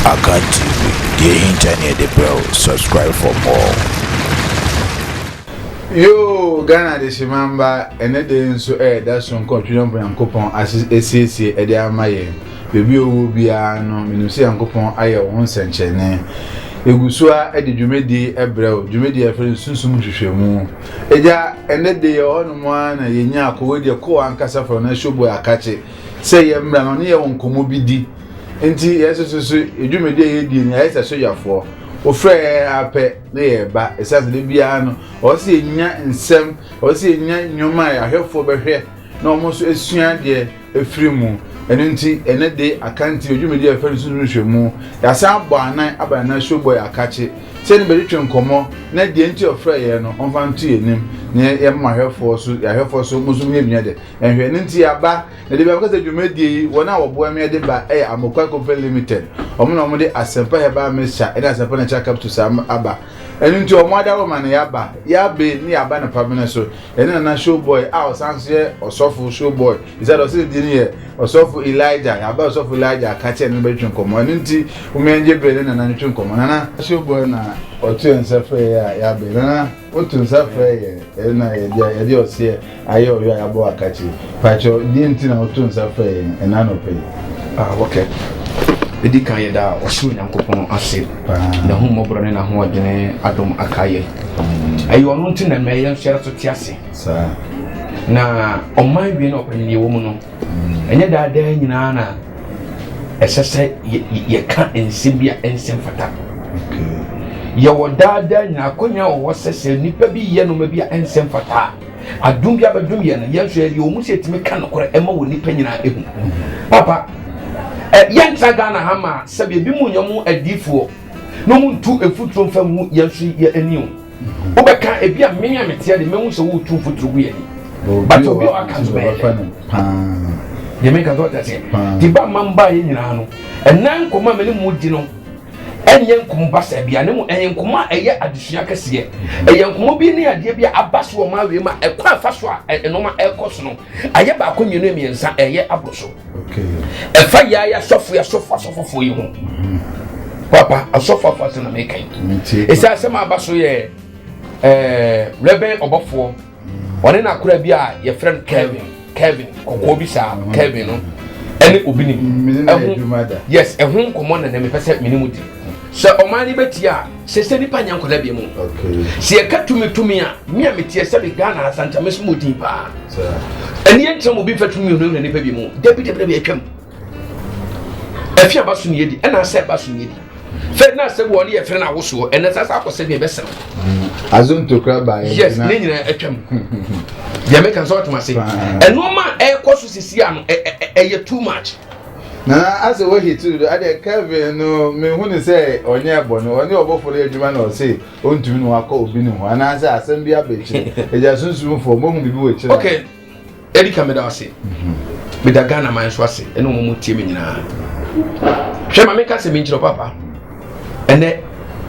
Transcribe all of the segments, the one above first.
Akan TV, deɛ ɛhinta ne yɛde brɛ wo, subscribe for more. Yoo Ghana adehyeman mma ɛnɛ da yi nso ɛreda so nkɔ ɔtwene ɔbɔ Nyankopɔn asiesie ɛde ama yɛn baabi ɔwɔ biara no menim sɛ Nyankopɔn ayɛ wo ho nsɛnkyerɛnne yɛgu so a ɛde dwumadi ɛbrɛ wo dwumadi a ɛfrɛ no sunsum nhwehwɛmu agya ɛnɛ da yi ɛhɔ nom a na yɛnya akɔwɔ deɛ kɔɔ ankasa fam na showboy akakye sɛ yɛmmra na ɔne yɛn nkɔmmɔ bi di. Enti yɛsususo yɛn dwumadi a yɛdie no, yɛayɛ sɛ sogyafoɔ. Wofrɛ yɛn ara pɛ na yɛreba, ɛsiane sɛ da biara no, ɛwɔ sɛ yɛnya nsɛm, ɛwɔ sɛ yɛnya nneɛma a ahwɛfoɔ bɛhwɛ na wɔn nso asua adeɛ afiri mu. Ɛno nti, ɛnnɛ de Akanti wɔ dwumadi a yɛfrɛ no Sunsum Nhwehwɛmu. Yɛasan abɔ anan aba Nana Showboy Akakye sɛ ne bɛtwetwe nkɔmmɔ na deɛ nti ɔfrɛɛ yɛn no, ɔmfa nto yɛn anim na yɛmma ahwɛfoɔ so, yɛn ahwɛfoɔ so, mo nso monyɛ bi nyɛ dɛ. Ɛhwɛ, ɛno nti aba na de bi abɛka sɛ dwumadie yi wɔn a wɔboa me de ba yɛ Amokwaa Company Limited. Wɔn na wɔde Asempa Herbal Mixture ne Asempa Natural Capsules aba. Ɛno nti wɔn adaworo ma no yaba, yabe ne yaba no pamene so. Yɛne Nana Showboy a ɔsan so yɛ ɔsɔfo Showboy, ɛsɛ sɛ ɔse ne din yɛ ɔsɔfo Elijah, yaba ɔsɔfo Elijah aka kyɛ ne no bɛtwe nkɔmmɔ. Ɛno nti wɔn yɛn gye bere ne Nana ntwe nkɔmmɔ. Nana Showboy na ɔto yɛn nsa frɛ yɛ a yabe. Nana. Woto nsa frɛ yɛn na yɛde ɔseɛ ayɛ ɔyɔ a yɛabɔ wo akakyire. Pakyɛ, deɛn nti na woto nsa frɛ yɛn ɛna anɔpa yi? Ah, ok. Ɛdi kan yɛda ɔsoro Nyankopɔn ase. N'ahummɔborɔ ne n'ahoɔdene adom aka yɛ. Ɛyɛ ɔno nti na ɛma yɛn nso yɛda so te ase. Saa. Na ɔman wie na ɔpɛ no deɛ ɛwɔ mu no. Ɛnyɛ daa daa nyinaa na ɛsɛ sɛ yɛka nsɛm bi a ɛnsɛ mfata. Yɛwɔ daa daa nyinaa akonya wɔ hɔ sɛ sɛ nnipa bi yɛ nneɛma bi a ɛnsɛ mfata a, adum bi abɛdum yɛn no yɛn nso yɛde wɔn mu sɛ yɛtumi ka nokorɛ ɛma wɔ nnipa nyinaa ehu. Papa, ɛ yɛntra Ghana ha ma sɛbi ebi mu nyɛ wɔn adiifoɔ na wɔn ntu mfuturo nfa ngu yɛn nso yɛn ani o. wobɛka ebi a me a meteɛ de mɛhu sɛ woretu mfuturo gu yɛ ni but obi a ɔaka nso bɛyɛ deɛ meka sɛ ɔtɛ seɛ nti ba ma mba yɛ nyinaa no ɛna nkɔma me ne mu di no ɛnyɛ nkɔmɔ basa bia ne mu ɛyɛ nkɔmɔ a ɛyɛ adesua kɛseɛ ɛyɛ nkɔmɔ bi ne adeɛ bi a aba so wɔ maa wei ma ɛkɔ afa so a ɛnoma ɛkɔ so no ayɛ baako mmienu mmiɛnsa ɛyɛ aboro so ɛfa yɛ ayɛ asɔfo yɛ asɔfo asɔfofoɔ yi ho papa asɔfo afo asɛm na meka yi ɛsɛ asɛm a aba so yɛ ɛɛ rɛbɛn ɔbɔfoɔ ɔne na akora bi a yɛfrɛ no kevin kevin kɔkɔɔ bi saa kevin no ɛne obi nim ɛho yes ɛho nkɔmmɔ na na mepɛ sɛ mene mu di Sɛ ɔman no bɛtie a, sɛ sɛ nipa nyɛ nkɔla bia mu. Sɛ yɛka tumi tumi a, me a meteɛ sɛ me Ghana asa nkyɛ meso mu din paa. Ɛni ɛnkyerɛ mu bi mfa tumi hunahuna nipa bi mu. Dabi dabi dabi atwam. Ɛfi aba so niyɛ di, ɛna asɛ ɛba so niyɛ di. Fɛ na asɛ wɔ ne yɛ fere na awosoɔ, ɛna sɛ asɛ akɔsɛ bi ɛbɛsɛ no. Azum to kura ba yɛ. Yes, ne nyinaa atwam. Deɛ meka sɛ ɔtoma se. Ɛnoɔma ɛkɔ so sisi ano, ɛyɛ too much. Nana asɛ woahi tiri do ɛdeɛ Kevin no me hu no sɛ ɔnyɛɛ bɔne ɔne ɔbɔfoɔ no yɛ adwuma na ɔse ɔntumi ne wakɔ obi ne ho anaasɛ asɛm bi aba akyire agya sunsum foɔ mohu biribi wɔ akyire ok ɛdi ka meda ase meda Ghana man so ase ɛne ɔmo mo tie me nyinaa hwɛ ma menka sɛ menkyerɛ papa ɛnɛ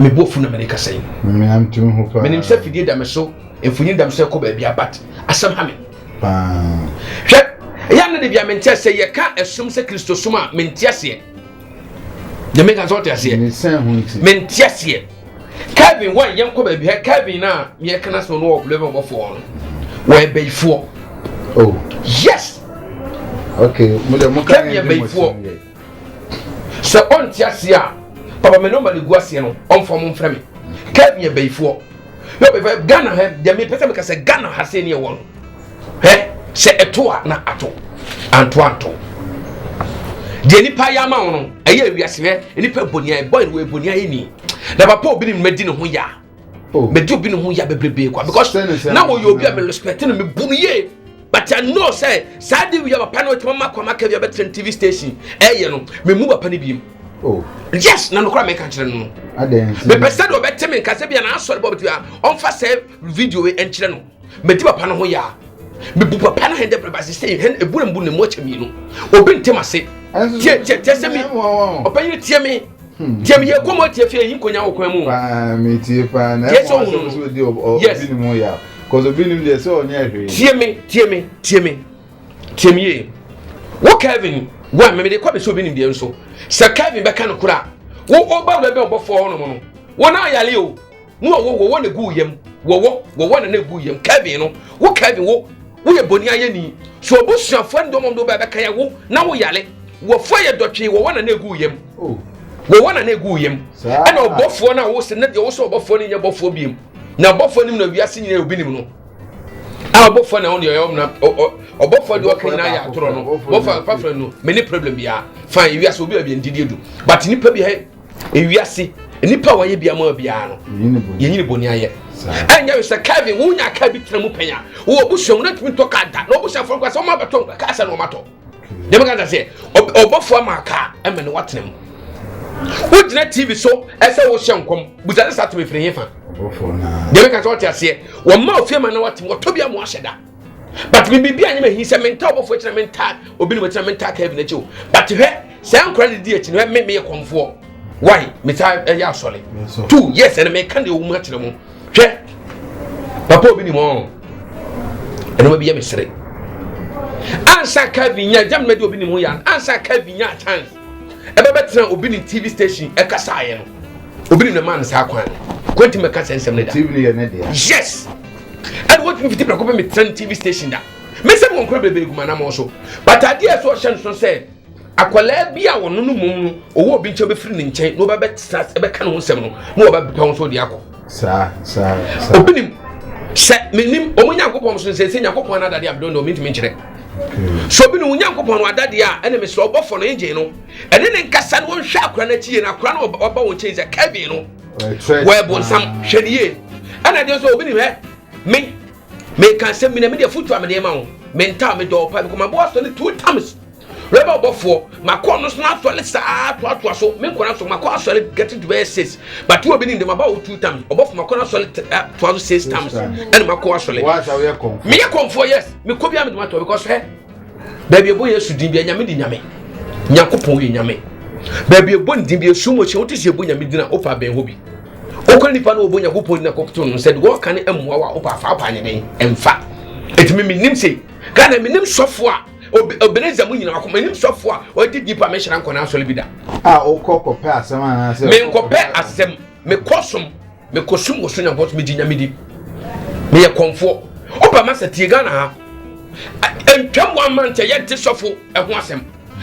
mebɔ fu na mene kasa yi menim sɛ fidie da me so mfonyin da me so ɛkɔ baabi abat asɛm ha me Paa. Hwɛ, ɛyɛ a na de bia mente aseɛ, yɛka ɛsom sɛ Kristosom a mente aseɛ. Deɛ meka sɛ ɔte aseɛ. Mente aseɛ. Kevin wɔn yɛn kɔ baabi hɛ Kevin na yɛ kana so no wɔ blɛbɛ ɔbɔfoɔ no wɔyɛ bɛyifoɔ. Oh. Yes. Okay. Mo deɛ mo kan yɛ bɛyifoɔ. Sɛ ɔnte aseɛ a papa me number no gu aseɛ no ɔmfa ɔmo mfrɛ me Kev yɛ bayifoɔ yɛ ɔbɛfa Ghana hɛ deɛ mepɛ sɛ meka sɛ Ghana ha sei ne ɛwɔ no hɛ sɛ ɛto a na ato anto anto deɛ nipa yɛ ama wo no ɛyɛ awiase hɛ nipa boniayɛ bɔn wɔ boniayɛ ni na papa obi ne mma di ne ho yɛ a Oh. mɛdi obi ne ho ya bebrebee kwa because na wɔyɛ obi a merespect no mebu no yie but i know sɛ saa de wia papa no ɔtumi ma kwama ka wia bɛtena tv station ɛyɛ no memu papa no biem oh. yes na nokora meka kyerɛ no no mepɛ sɛ de ɔbɛte me nkasɛ bia na asɔre bɔ bɛtumi a ɔmfa sɛ video ɛnkyerɛ no Medi papa no ho ya. Mebu papa no hɛn dɛ brɛba dze sɛ hɛn ebu mbu ne mu akyɛ mienu. Obi ntem ase. Tie tie tie sɛ mi. Ɔpanyin tie me. Hmm. Tie me yɛ kɔmɔ tie fie yi nkonya wɔ kwan mu. Paa me tie paa na ɛfɔ asɛm so di obi ne mu ya. Cause obi nim deɛ sɛ ɔnyɛ hwee. Tie me tie me tie me tie me yie. Wo Kevin wa mɛmɛ de kɔ bɛ sɛ obi nim deɛ nso sɛ Kevin bɛka no kora wo ɔba wura bɛ ɔbɔfoɔ hɔ nom no wɔn ayale o. No ɔwɔ wɔwɔ na gu yam wɔwɔ wɔwɔ na na gu yam Kevin no wo Kevin wo woyɛ bɔne ayɛni so abusuafoɔ ne dɔmɔm de wobɛbɛka yɛ wo na woyare wɔfoɔ yɛ dɔtwee wɔwɔ na na gu yam oh. wɔwɔ na na gu yam ɛna ɔbɔfoɔ no a wosɛ na deɛ wosɛ ɔbɔfoɔ no nyɛ bɔfoɔ biem na ɔbɔfoɔ nim na wiase nyina obi nim no a ɔbɔfoɔ na ɔne ɔyɛ ɔmna ɔbɔfoɔ deɛ ɔka nyinaa yɛ atorɔ no bɔfoɔ pafra no mene problem biara fa wiase obi a biɛ ndidie du but nipa bi hɛ ewiase nnipa a wɔyɛ bia ma biara no yɛnyini bɔne ayɛ ɛnyɛ we sɛ kevin wonya kaa bi tena mu pɛn a wowɔ busua mu na tumi tɔ kaa da na ɔbusuafoɔ nka sɛ ɔma bɛtɔ kaa sɛ na ɔmatɔ deɛ meka da sɛ ɔbɔfoɔ ama kaa ɛmɛ ne woatena mu wogyina tv so ɛsɛ wohyɛ nkɔm busa ne saa tumi firi hefa deɛ meka sɛ ɔte aseɛ wɔma ofie ma na woatem wɔtɔ bi ama wahyɛ da but me biribi anyɛ mahi sɛ menta ɔbɔfoɔ akyina menta obi ne makyina menta kevin akyi o but hwɛ saa nkora ne di akyi no me meyɛ kɔmfoɔ why metaa ɛyɛ asɔre two yes ɛne meka deɛ ɔwom akyerɛ mu hwɛ papa obi ni mɔ ɛnoma bi yɛ me sere ansa kevin nya gyam na de obi ni mu yan ansa kevin nya chance ɛbɛbɛtena obi ne tv station ɛkasaeɛ no obi ne mɛma no saa kwan no kwanti mɛka sɛ nsɛm no da tv no yɛ ne deɛ yes ɛne wɔtumi fiti prɛko pɛ metena ne tv station da mesɛ mo nkora bebree guma namɔ so but adeɛ ɛsɛ ɔhyɛ no so sɛ akwadaa bi a wɔno no mmom no ɔwɔ obi nkyɛn bɛfiri ne nkyɛn na wɔbɛbɛtena ɛbɛka ne ho nsɛm no na wɔbɛpɛ ho so de akɔ saa saa saa obi nim sɛ menim ɔmo nyankopɔn so nsɛ sɛ nyankopɔn ana adadeɛ abdɔ no mentumi nkyerɛ so obi ne wo nyankopɔn no adadeɛ a ɛne mesrɛ ɔbɔfɔ no ngyen no ɛne ne nkasa no wɔnhwɛ akora no akyi yie no akora no ɔba wo nkyɛn sɛ kevin no wɔyɛ bonsam hwɛ ne yie ɛna deɛ nso obi nim ɛ me meka sɛ mena medeɛ fotu a medeɛ ma wo mentaa medɔɔ pa mekɔmaboa sɔ ne two times Wɛba ɔbɔfoɔ makɔ ɔno so asɔre saa toatoa so me nkɔla so makɔ asɔre getting to bɛyɛ six but wo obi ni ndɛm aba wo two times ɔbɔfo makɔ no asɔre toa so six times ɛna makɔ asɔre meyɛ kɔnfoɔ yes mekɔ bia mede matɔ because hɛ baabi ɛbɔ yesu din bia nyame di nyame nyankopɔn yɛ nyame baabi ɛbɔ ne din bia esu mu hyɛ wote sɛ ɛbɔ nyame din a wopa bɛn hɔ bi wokɔ nipa no wɔbɔ nyankopɔn din akɔkoto no sɛ de wɔka ne mmoa wo a wopa afa wopa nyɛ dɛn ɛmfa ɛtumi menim sei ghana menim sɔfoɔ a Ebenezer mu nyinaa kɔm anim sɔfo a ɔde deep a mehyira nkɔ n'asɔre bi da. A wokɔ kɔpɛ asɛm anaasɛ? Menkɔpɛ asɛm, mekɔ som, mekɔ som wɔ so nyankɔ so megye nyame di. Meyɛ kɔmfoɔ. Woba masa tie Ghana ha. Ntwam wɔn amankyɛ yɛnte sɔfo ɛho asɛm.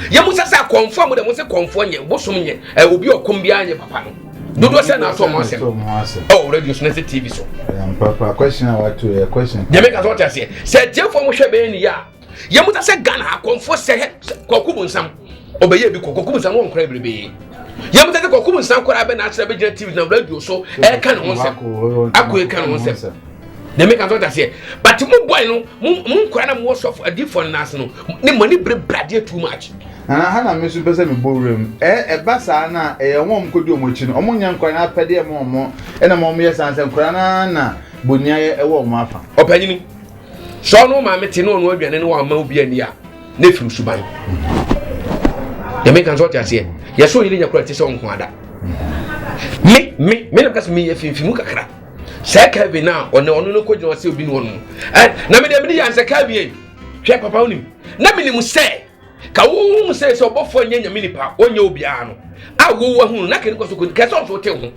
Yɛmu sɛ sɛ kɔmfoɔ mo de mo se kɔmfoɔ nyɛ bosom nyɛ obi ɔkɔm biara nyɛ papa no. Dodoɔ sɛ na ato ɔmo asɛm. Ɛwɔ radio so na sɛ TV so. Yɛn papa question a wato yɛ question. Deɛ meka sɛ ɔte aseɛ. Sɛ atiefoɔ mo hwɛ bɛyɛ ne yɛ a. yɛ mu ta sɛ ghana akɔmfoɔ sɛ hɛ kɔkɔ mu nsam ɔbɛyɛ bi kɔ kɔkɔ mu nsam wɔn kora bebrebe yɛ mu ta sɛ kɔkɔ mu nsam kora bɛ n'akyerɛ bɛ gyina tv na radio so ɛka ne ho nsɛm akɔ ɛka ne ho nsɛm na ɛmɛ kan so ta seɛ but mo boy no mo mo nkora na mo wɔ sɔfo adifo no n'ase no ne mo ani bere bradeɛ too much. nana ha na me so pɛ sɛ me bɔ wura mu ɛ ɛba saa na ɛyɛ wɔn kɔdi wɔn akyi no wɔn nyɛ nkora na apɛdeɛ mo wɔn ɛna mo wɔn yɛ saa sɛ nkora na na boniayɛ ɛwɔ wɔn afa. ɔpanyini. sɛ ɔno maame te ne ɔno aduane no wamma obi ani a na ɛfiri suban yɛmeka sɛ ɔte aseɛ yɛsɛ ɔyere nya kora te sɛ ɔnko ada me me me nam ka sɛ meyɛ fimfimu kakra sɛ kevin a ɔne ɔno no kɔgyina ɔsɛ obi ne ɔno na mede mene yɛ ansɛ kevin hwɛ papa wonim na menim sɛ ka wohu sɛ sɛ ɔbɔfoɔ nyɛ nyame nipa ɔnyɛ obiara no a wowu ahunu na kɛne kɔ so kɔni kɛ sɛ ɔnso wote ho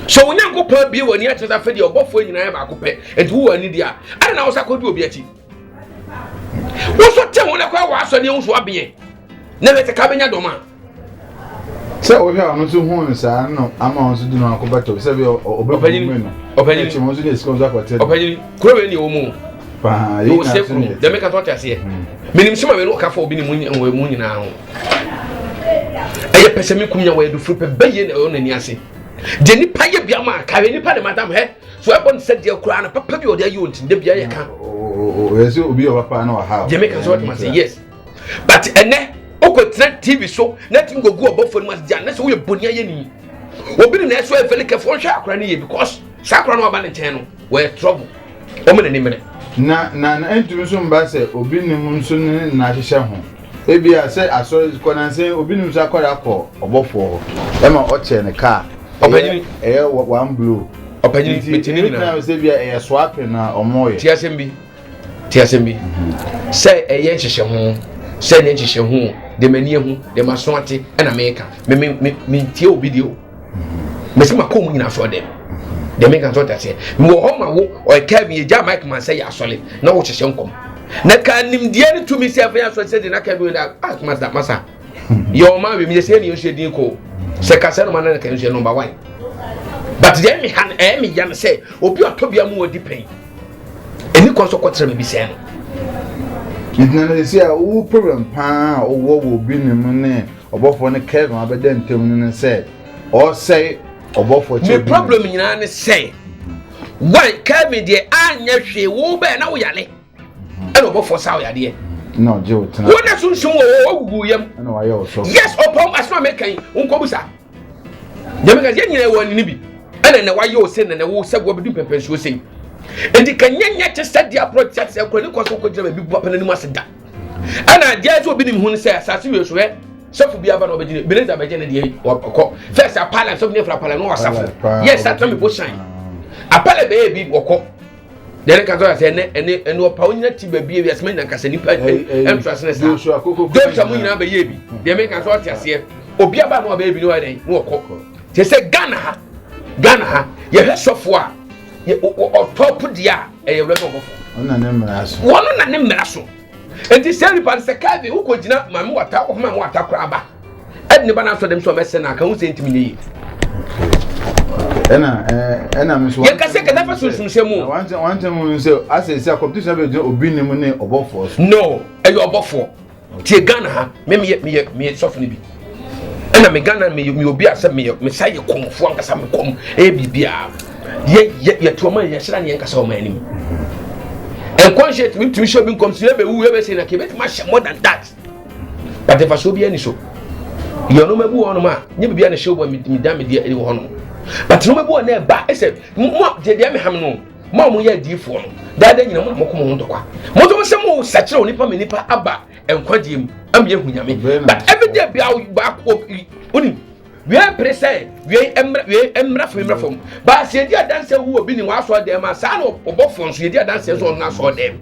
sɛ onyankopɔn abie w'ani akyerɛ sɛ afɛ deɛ ɔbɔfoɔ nyinaa yɛ baako pɛ nti wowɔ ani deɛ a ɛna na wo sa kɔdi obi akyi wo so te ho na kora w'asɔdeɛ wo so abeɛ na hwɛ sɛ ka bɛnya dɔm a sɛ wohwɛ a ɔno nso hu saa no ama ɔno nso de no akɔ bɛtɔ sɛ bɛ ɔbɛbɛyi mu no ɔbɛyi mu nso de sika nso akɔtɛ ɔbɛyi mu kuro wei ni wɔn mu paa yi na so ne dɛm ka tɔte aseɛ menim sima mɛ no ɔka fɔ obi ne mu nyinaa ho ɛyɛ pɛsɛ mi kum nya wɔ ɛdufuru pɛ bɛyɛ na ɔyɛ n'ani ase deɛ nipa yɛ bia ma kare nipa de ma dam hɛ so ɛbɔ ne sɛ deɛ koraa na papa bi ɔde ayi wɔn ti de bia yɛ ka ɔyɛ sɛ obi yɛ ɔba paa na ɔha deɛ mɛ ka so ɔte ma se yes but ɛnɛ wokɔtena tv so na tumi kɔgu ɔbɔfoɔ no mu asegya na sɛ woyɛ bɔne ayɛ ni obi ne na ɛso ɛfɛ ne kɛfo nhwɛ akora no yie because saa akora no waba ne nkyɛn no wɔyɛ trouble wɔn na nimene. na na na ntumi nso mba sɛ obi nim nso ne na ahyehyɛ ho ebi a sɛ asɔre kɔ na nsɛn obi nim nso akɔre akɔ ɔbɔfoɔ hɔ ɛma ɔkyɛ ne kaa ɛyɛ ɛyɛ one blow ɔpanyini bɛtumi nyinaa sɛ bi a ɛyɛ swapping na ɔmo yɛ ti asɛm bi Te asɛm bi? Sɛ ɛyɛ nhyehyɛho, sɛ ɛnyɛ nhyehyɛho, de m'ani ahu, de m'aso ate, ɛna meka. Me me me mentie obi deɛ o. Mesi ma kɔn mu nyinaa so ɔdɛm. Deɛ meka nso ɔte aseɛ. Mewɔ hɔ ma wo, ɔyɛkaa bi yɛgya Mike man sɛ yɛ asɔre na wɔhyehyɛ nkɔm. Na ka nimdeɛ ne tumi sɛ ɛfɛ yɛ asɔre sɛ deɛ na ka bi wɔ da, ah, masa, masa. yɛ ɔma awem yɛ sɛ ɛne nsuo din ko sɛ ka sɛ noma na ka nsuo nɔmba wan but deɛ ɛmi ha ɛyɛ mi ya no sɛ obi ɔtɔ bi amu ɔdi pɛn ɛni kɔ nso kɔtara mi bi sɛn no. ntina no ɛsi a wo problem paa a wowɔ wɔ obi ne mu ne ɔbɔfoɔ no kevin abɛda ntam no ne sɛ ɔsɛe ɔbɔfoɔ kyɛ me problem nyinaa ne sɛ wan kevin deɛ anyɛ hwee wo bɛɛ na woyale ɛna ɔbɔfoɔ saa wo yadeɛ na ɔgye wo tena wo na sunsum wɔ wɔ gugu yam ɛna wayɛ wo sɔfo yes ɔpɔm asoma mɛka yi nkɔbu saa dɛm ka yɛ nyina wɔ ne bi ɛna na wayɛ wo sɛ na na wo sɛ wɔ bɛdu pɛmpɛnsuo sɛ yi nti ka nyɛ nyɛ te sɛ deɛ aporɔ te sɛ kora ne kɔ so kɔgyina baabi bu apɛ n'anim ase da ɛna adeɛ sɛ obi nim ho no sɛ asase wie so hɛ sɔfo bi aba na ɔbɛgyina beneza bɛgyɛ ne deɛ ɔkɔ fɛs apala sɔfo ne fura apala no wɔ asafo yɛ sa tɔmi bo shan apala bɛyɛ bi wɔkɔ deɛ ne katɔ sɛ ɛnɛ ɛne ɛne ɔpa wo nyina ti baabi ebi asɛmɛ nyina nkasa nipa ɛntra sene saa joshua mu nyinaa bɛyɛ bi deɛ meka sɛ ɔte aseɛ obi aba no ɔbɛyɛ bi ne wayɛ ne wɔkɔ te sɛ ghana ha ghana ha yɛhwɛ sɔfoɔ a ɔtɔ po deɛ a ɛyɛ wura bɔbɔfo wɔn na ne mmara so nti sɛ nipa no sɛ kaa bi wokɔ gyina maame wata ɔhoma wata koraa ba ɛde ne ba no asɔ dɛm sɛ ɔmɛsɛ no a ka ho sɛ ntimi nyɛ yie ɛna ɛna mi nso yɛn kasa kasa fa sunsun sɛ mu. wɔn ntɛn wɔn ntɛn mu nso asɛ sɛ competition bɛ gyina obi ne mu ne ɔbɔfoɔ so. no ɛyɛ ɔbɔfoɔ tie ghana ha mɛ mi yɛ mi yɛ mi yɛ sɔfo ne bi ɛna mi ghana mi mi obi asɛ mi yɛ mi sa yɛ kɔnfoɔ ankasa mi kɔn ɛyɛ biribiara yɛ yɛ yɛ tuoma yɛ hyɛn ni yɛn kasa wɔn anim nkɔnhyɛ tumi tumi hyɛ obi nkɔm so yɛ bɛ wu yɛ bɛ se na kɛ bɛ tuma hyɛ more than that. But mfasoɔ biara ni so. Yɛ nneɛma bi wɔ hɔnom a nye biribi a na ɛhyɛ wɔn a mi dan mi deɛ ɛde wɔ hɔnom. But nneɛma bi wɔ na ɛba ɛsɛ mo a deɛ deɛ mi ha mi no mo a mo yɛ adiifoɔ no daada nyina mo na mo kɔ mo ho ntɔkwa. Mo to mo sɛ mo sakyerɛ onipa mi nipa aba nkwagyeɛ mu ama yɛ hu nyame. But every day bia baako onim. wei mpere sɛ wei mmra wei mmra fam mmra fam baasi edi adansi wu obi ni wɔn asɔ dɛm ma saa na ɔbɔfoɔ nso edi adansi nso ɔno asɔ dɛm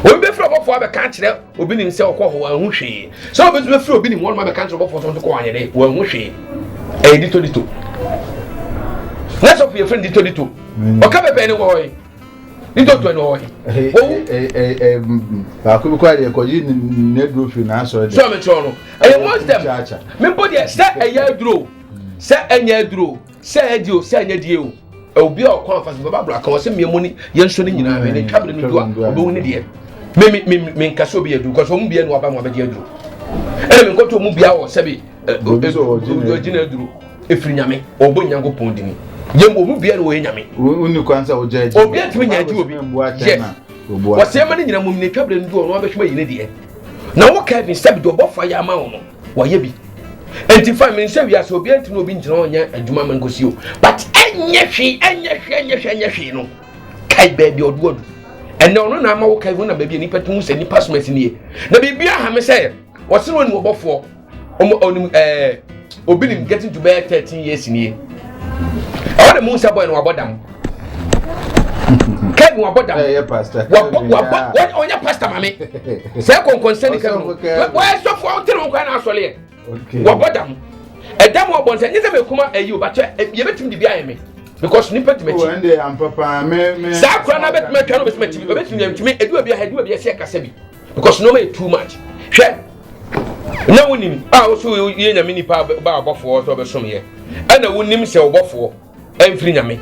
obi bɛ firi ɔbɔfoɔ abɛka akyerɛ obi ni sɛ ɔkɔ hɔ wɔn ho hwee sɛ obi nso bɛ firi obi ni wɔn abɛka akyerɛ ɔbɔfoɔ nso kɔ wɔn ayɛ dɛ wɔn ho hwee ɛyɛ dito dito na sɔfo yɛ fɛn dito dito ɔka bɛbɛn ne wɔ hɔ yi. ntɔtɔ na ɔwɔ he owu. baako bi kora deɛ kɔgye n'aduro firi n'asɔre deɛ. sọ mi kyerɛ no ɛyɛ wɔn dɛm mi mpo deɛ sɛ ɛyɛ aduro sɛ ɛnyɛ aduro sɛ ɛdi o sɛ ɛnyɛ die o obi a ɔkɔ anfa so bɛba aburo aka wɔsɛ mmienu ni yɛn nso ne nyinaa mi ne twa mi ne no do a obewu ne deɛ mi mi mi mi nkasi obi aduro kɔsɔ ɔmu bia ni waba mu abɛgye aduro ɛna mi nkɔtɔ ɔmu bia wɔ sɛbi ɔgyina aduro. efiri nyame ɔbɔ nyankopɔn dini yɛn bɔ mu biara wɔyɛ nyame. wo ni kwan sɛ wogya agyi obi atumi nya agyi obi yes wɔsɛ ɛma ne nyina mu ne twabere no doɔ no wabɛsoma yi ne deɛ na wo kevin sɛbi deɛ ɔbɔfo ayɛ ama wo no wɔyɛ bi nti fa mi nsɛ wiase obi ntumi obi ngyina ɔnyɛ adwuma ma nkosi o but ɛnyɛ hwee ɛnyɛ hwee ɛnyɛ hwee ɛnyɛ hwee no kae baabi ɔdo adu ɛnna ɔno na ama wo kevin na baabi a nipa tumi sɛ nipa soma si nie na biribi aha me sɛ wɔsɛ wɔn ni wɔbɔfoɔ ɔmo ɔnim ɛɛ obi nim getting to bɛyɛ thirteen years nie ɛwɔ de mu nsa bɔyɛ no wabɔ dam kɛn wabɔ dam wabɔ wabɔ wɔn ɔnyɛ pastor maame sɛ kɔnkɔnsɛn ne kɛn no wɔyɛ sɔfo awo tiri nkwa na asɔle yɛ wabɔ dam ɛdam wɔ bɔnsɛn nye sɛ mɛ kuma ɛyi o bàtɛ yɛ bɛ tumi de bi ayɛ mi because nipa tuma ti saa kura na bɛ tuma twa na bɛ tuma ti bɛ tuma tumi edu ebi edu ebi ɛsɛ kasa bi because nneɛma yɛ too much hwɛ na wonim a woso yɛ nyame nipa ba ɔbɔfoɔ sɛ ɔbɛsom yɛ ɛna wonim sɛ ɔbɔfoɔ ɛmfiri nyame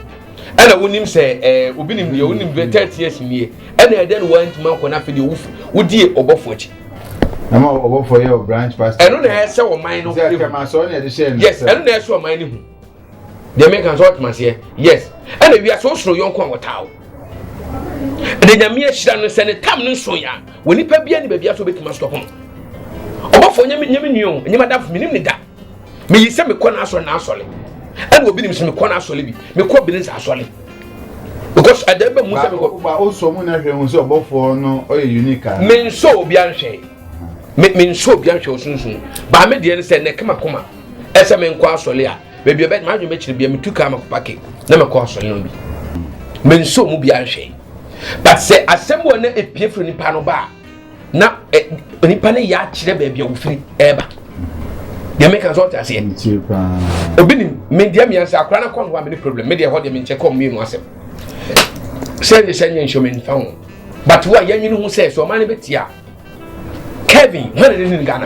ɛna wonim sɛ ɛɛ eh, obi nim deɛ wonim deɛ thirty years nie ɛna ɛdɛ no wɔntumi akɔ na afei deɛ wofu wodie ɔbɔfoɔ akyi. na ma ɔbɔfoɔ yɛ ɔbranch pastor. ɛno na ɛsɛ ɔman no ehu yes ɛno na ɛsɛ ɔman no ehu. deɛ meka nso ɔtoma aseɛ yes ɛna wiase wosoro yɔnko a wɔtaa wo ɛna nyame ahyira no sɛ ne tam no nso yɛ a wɔ nipa bia ne baabia so wobɛtumi asotɔ ho ɔbɔfoɔ nyame nyame nua o nyame adamfo menim ne da meyi sɛ mekɔ no asɔre na asɔre ɛna obi nim sɛ mekɔ no asɔre bi mekɔ bene sɛ asɔre because ɛdɛ bɛ mu sɛ mekɔ ba o sɔ mu na hwɛ hu sɛ ɔbɔfoɔ no ɔyɛ unique a menso obi anhwɛ Me me nsɔ obi ahwɛ osunsun. Baa me deɛ no sɛ nɛke makoma. Ɛsɛ me nkɔ asɔle a. Baabi ɛbɛ ma adwene bɛkyerɛ bia me tu kaa makɔ pake na makɔ asɔle no bi. Me nsɔ mu bi ahwɛ. But sɛ asɛm wɔ na epie firi nipa no ba a na ɛ eh, nipa no yɛ akyerɛ baabi a wofiri ɛɛba. Deɛ meka sɛ ɔte aseɛ. Obi nim me deɛ mmiɛnsa akora no kɔ no a me ne problem. Me deɛ hɔ deɛ me nkyɛ kɔ mmienu asɛm. Sɛ ne sɛ nyɛ nhyɛ me nfa ho. But wo a yɛnwene ho sɛ sɛ ɔman no bɛtia a kevin hɔn na ne ghana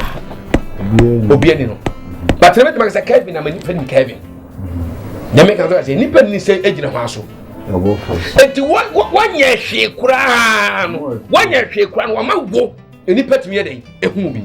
obi ani no but na mɛtɛmɛ sɛ kevin na ma nipa ni kevin nyame kan sɛ nipa ni sɛ egyina hɔn so eti wɔnyɛ hwee koraa no wɔnyɛ hwee koraa no wɔn ma wo nipa tumi yɛ dɛ ehu bi.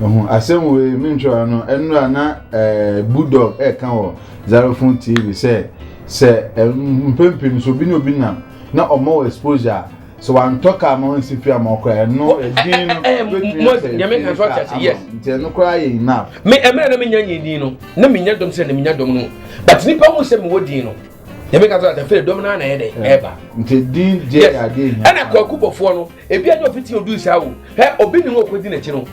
ɛho asɛm wo yi mi ntwara no ɛnura na ɛɛ bulldog ɛɛka wɔ zarofon tv sɛ sɛ ɛmpempem so obi na obi nam na ɔmɔ wɔ exposure. So wantɔ kaa ma wansi fie ama ɔkora ɛno edin no betumi asɛ nyame kan so ɔte ase yes nti ɛno koraa yɛ enough me ɛmɛ na me nya nyɛ din no na me nya dɔm sɛ na me nya dɔm no but nipa hu sɛ me wɔ din no nyame kan so ɔte fɛ dɔm no ana ɛdɛ ɛba nti din deɛ yɛ adeɛ hia ɛna kwaku bɔfoɔ no ebi anya ofiti odu saa o hɛ obi ne ho okodi n'akyi no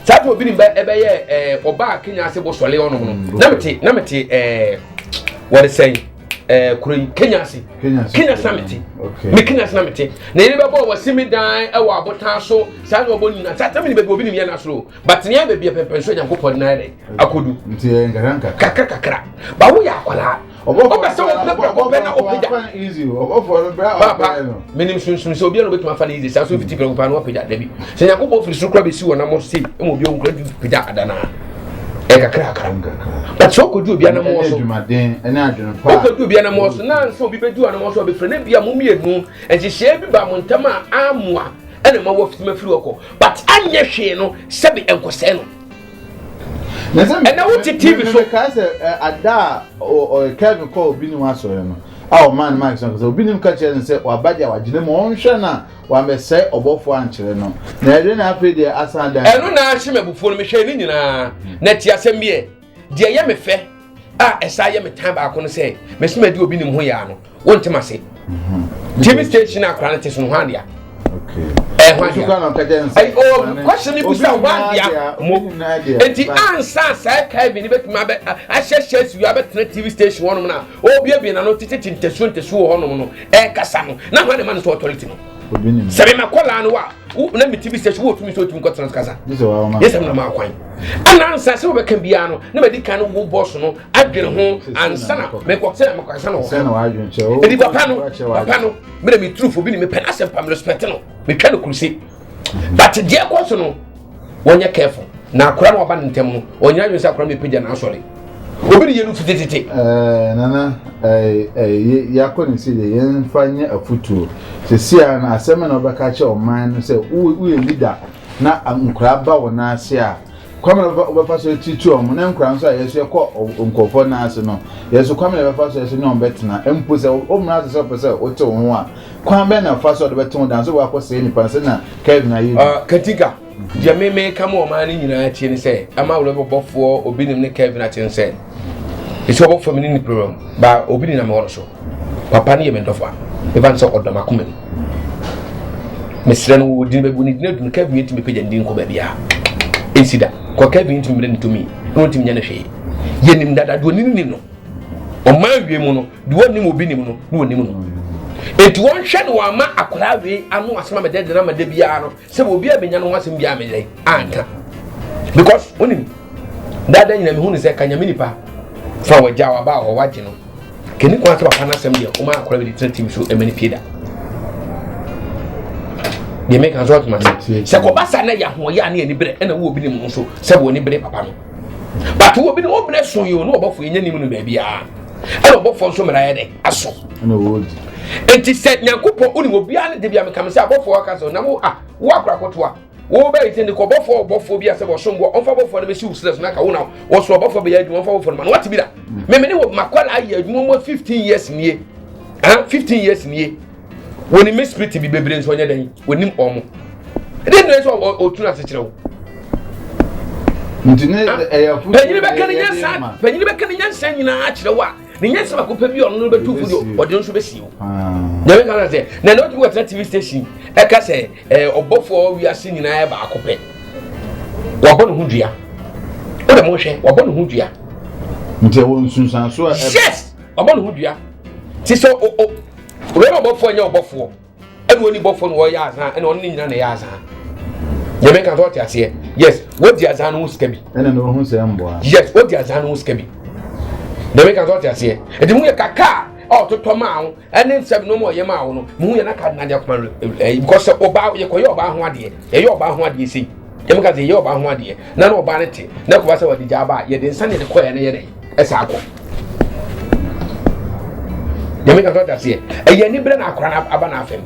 saa to obi ne ba ɛbɛyɛ ɛɛ ɔbaa kenya ase bɔ sɔle ɔnom no mm, na me te na me te ɛɛ wɔde sɛn. ɛɛ kuro yi kenya ase kenya ase na mete me kenya ase na mete na yɛn bɛbɔ wɔ simi dan ɛwɔ abotan so saa na ɔbɔ nyina saa tɛmɛ ni baabi obi ni yɛn n'asoro but nea baabi yɛ pɛmpɛn so nyanko pɔ nan yɛ akodu kakra kakra bawo yɛ akwadaa ɔbɛ sɛ ɔbɛ bɛ ɔbɛ na ɔbɛ da papa mɛnim sunsun sɛ obiara obetuma fa ne yize saa so fiti pɛrɛko paa na ɔbɛ da dabi sɛ nyanko pɔ firi soro kura bɛ si wɔn nam ɔsi ɛmu obi ɔnkura ju pɛ da adana. Ɛnkakrakra but sɛ ɔkɔdu obi anamɔ so ɔkɔdu obi anamɔ so na nso obi bɛdu anamɔ so ɔbɛfiri na bi a mo mmienu nhyehyɛɛ bi ba mo ntam a amoa ɛna ma wɔfiti ma firi ɔkɔ but anyɛ hwee no sɛbi nkɔsɛɛ no ɛna wo ti tv so. mɛka sɛ ada a ɔyɛ kevin kɔ obi ni wa sɔrɔ no a ɔmaa no maa ɛsɛ ɔkasa obi ni mu ka kyerɛ no sɛ waba deɛ wagyina mu ɔnhwɛ no a Wamɛsɛe ɔbɔfoɔ ankyerɛ no. Na ɛde na afei deɛ asan dan. Ɛno na ahye m'abufuo no. Mehwɛɛ ne nyinaa. Na ti asɛm bi ɛ. Deɛ ɛyɛ me fɛ a ɛsan yɛ me tan baako no sɛ mesi madi obi nim ho yaa no. Wonte m'ase. Mhm. TV station akora no te so no hwan dea? Question ni bisa hwan dea mo? Enti ansa saa Kevin ni betumi abɛ ahyɛhyɛ si abɛtena TV station hɔnom na obiebie n'ano tete ntasuo ntasuo hɔnom no ɛkasa no na hwan na ma no so authority no sɛ mema kɔlaa no a na mete bi sɛ so wɔtumi sɛ ɔtumi kɔtena so kasa yɛ sɛ mena maa kwan ana ansa sɛ wobɛka biara no na madi kan no wo bɔs no adwene ho ansa na mekɔ sɛ mekɔsa no wɔ ɛdi papa no papa no mena meturufo bi ne mepɛ no asɛm pa merespɛte no metwa no kuruse but deɛ ɛkɔ so no wɔnyɛ careful na akora na waba ne ntɛm no ɔnyina dwene sɛ akora no bɛpagya no asɔre obi de yɛ no fitititi eh, nana eh, eh, yɛakɔ ne si deɛ yɛmfa nyɛ afotuo sesia no asɛm na wobɛka kyɛ ɔman no sɛ woyɛ leader na nkora ba wɔ no ase a kwame na ɔbɛfa so titi ɔmo ne nkora nso a yɛso yɛkɔ nkɔfɔ n'ase no yɛso kwame na ɛbɛfa so yɛso ne ɔmo bɛtena mpo sɛ ɔmo n'ase sɛ ɔpɛ sɛ ɔte wɔn ho a Kwan bɛn na fa so a ɔde bɛte ho dan sɛ wɔakɔsɛe nnipa no sɛnea Kelvin ayɛ bi? Katika, Deɛ me meka ma ɔman no nyinaa atie ne sɛ ama wura bɔbɔfoɔ obi nim ne Kelvin ate no sɛ ɛsɛ ɔbɔ fam ne ne pere mu ba obi ne nam hɔ no so papa no yɛ me dɔfo a ɛfa no sɛ ɔdɔ m'akoma mu mesrɛ no wɔdi no bɛbu ne dina dunu Kelvin yɛtumi pagya ne din kɔ baabiaa ɛnsi da kɔ Kelvin yɛtumi mmerɛ ne tumi na ɔntumi nya ne hwee yɛnim dada deɛ ɔnim nim no ɔma awie mu no deɛ ɔnim obi nim no na ɔnim no enti wɔnhwɛ no wɔama akwadaa wei ano asɛm a mede de no ama da biara no sɛ obi a menya no ho asɛm biara meyɛ anka because wonim dada nyina mehu no sɛ ka nyame nipa fa wɔagya waba a wɔwagye no kɛni kwan sɛ papa no asɛm deɛ woma akwadaa wei de tena tim so ɛma no pie da deɛ meka nso ɔtoma sɛ sɛ kɔba sa na yɛ ahoɔyɛ a ne ani berɛ ɛna wo obi ne mu nso sɛ wɔ ne berɛ papa no but wɔ bi no wɔn mmerɛ so yi o ne ɔbɔfo yɛnyɛ nim no baabi a ɛna ɔbɔfo nso mmerɛ ayɛ dɛ aso nti sɛ nyankopɔn wone obiara ne de bia mekame sɛ abɔfoɔ aka sɛ nam a wo akorakotoa wobɛyɛ sɛ nti kɔbɔfoɔ ɔbɔfoɔ bi a sɛ wɔsom boɔ ɔmfa bɔfoɔ no bɛsi wo serɛ so na ka wo na wɔso ɔbɔfoɔ bɛyɛ adwuma ɔmfa bɔfoɔ no ma no wate bi da memene wɔ makwala ayɛ adwuma mu 15 years nie 15 years nie Wɔnim me spirit bi bebree nso ɔnyɛ dɛn wɔnim wɔn. Ɛdɛn na ɛsɛ ɔtunu ase kyerɛ wo? Ntini ah, ɛyɛ fudu. Panyini bɛka ne nyansa panyini bɛka ne nyansa nyinaa akyerɛ wo a ne nyansa baako pɛ bi a ɔno no bɛtu fo deɛ ɔde nso bɛsi wo. Nyame ka sɛ na ɛna ɔtumi wɔtena TV station ɛka sɛ ɛɛ ɔbɔfoɔ wiase nyinaa yɛ baako pɛ. Wabɔ ne ho dua. Wode mo hwɛ wabɔ ne ho dua. Nti ɛwɔ nsunsuanso a. Yes. ɔbɔ ne ho dua ti sɛ o o wei na ɔbɔfoɔ nyɛ ɔbɔfoɔ ɛna wɔn ni bɔfoɔ na wɔyɛ azan ɛna wɔn ne nyina na ɛyɛ azan yɛbɛn kan sɛ ɔte aseɛ yes wɔdi azan no ho sika bi ɛna na ɔho sɛ mboa yes wɔdi azan no ho sika bi yɛbɛn kan sɛ ɔte aseɛ ɛdi mu yɛ kakaa ɔtotɔ maa wo ɛne nsɛm no ma ɔyɛ maa wo no mu yɛ na ka na deɛ kɔma ɛyi kɔ sɛ ɔbaa yɛkɔyɛ ɔbaa ho adeɛ yɛyɛ ɔbaa ho adeɛ sei Yɛn mu ka sɛ yɛyɛ ɔbaa ho adeɛ na na ɔbaa no te na ɛkɔba sɛ wɔde gyaa ba a yɛde nsa na yɛde kɔɛ na yɛde ɛsa akɔ. Yɛn mu ka sɛ ɔda seɛ ɛyɛ anibrɛ na akora no aba n'afɛm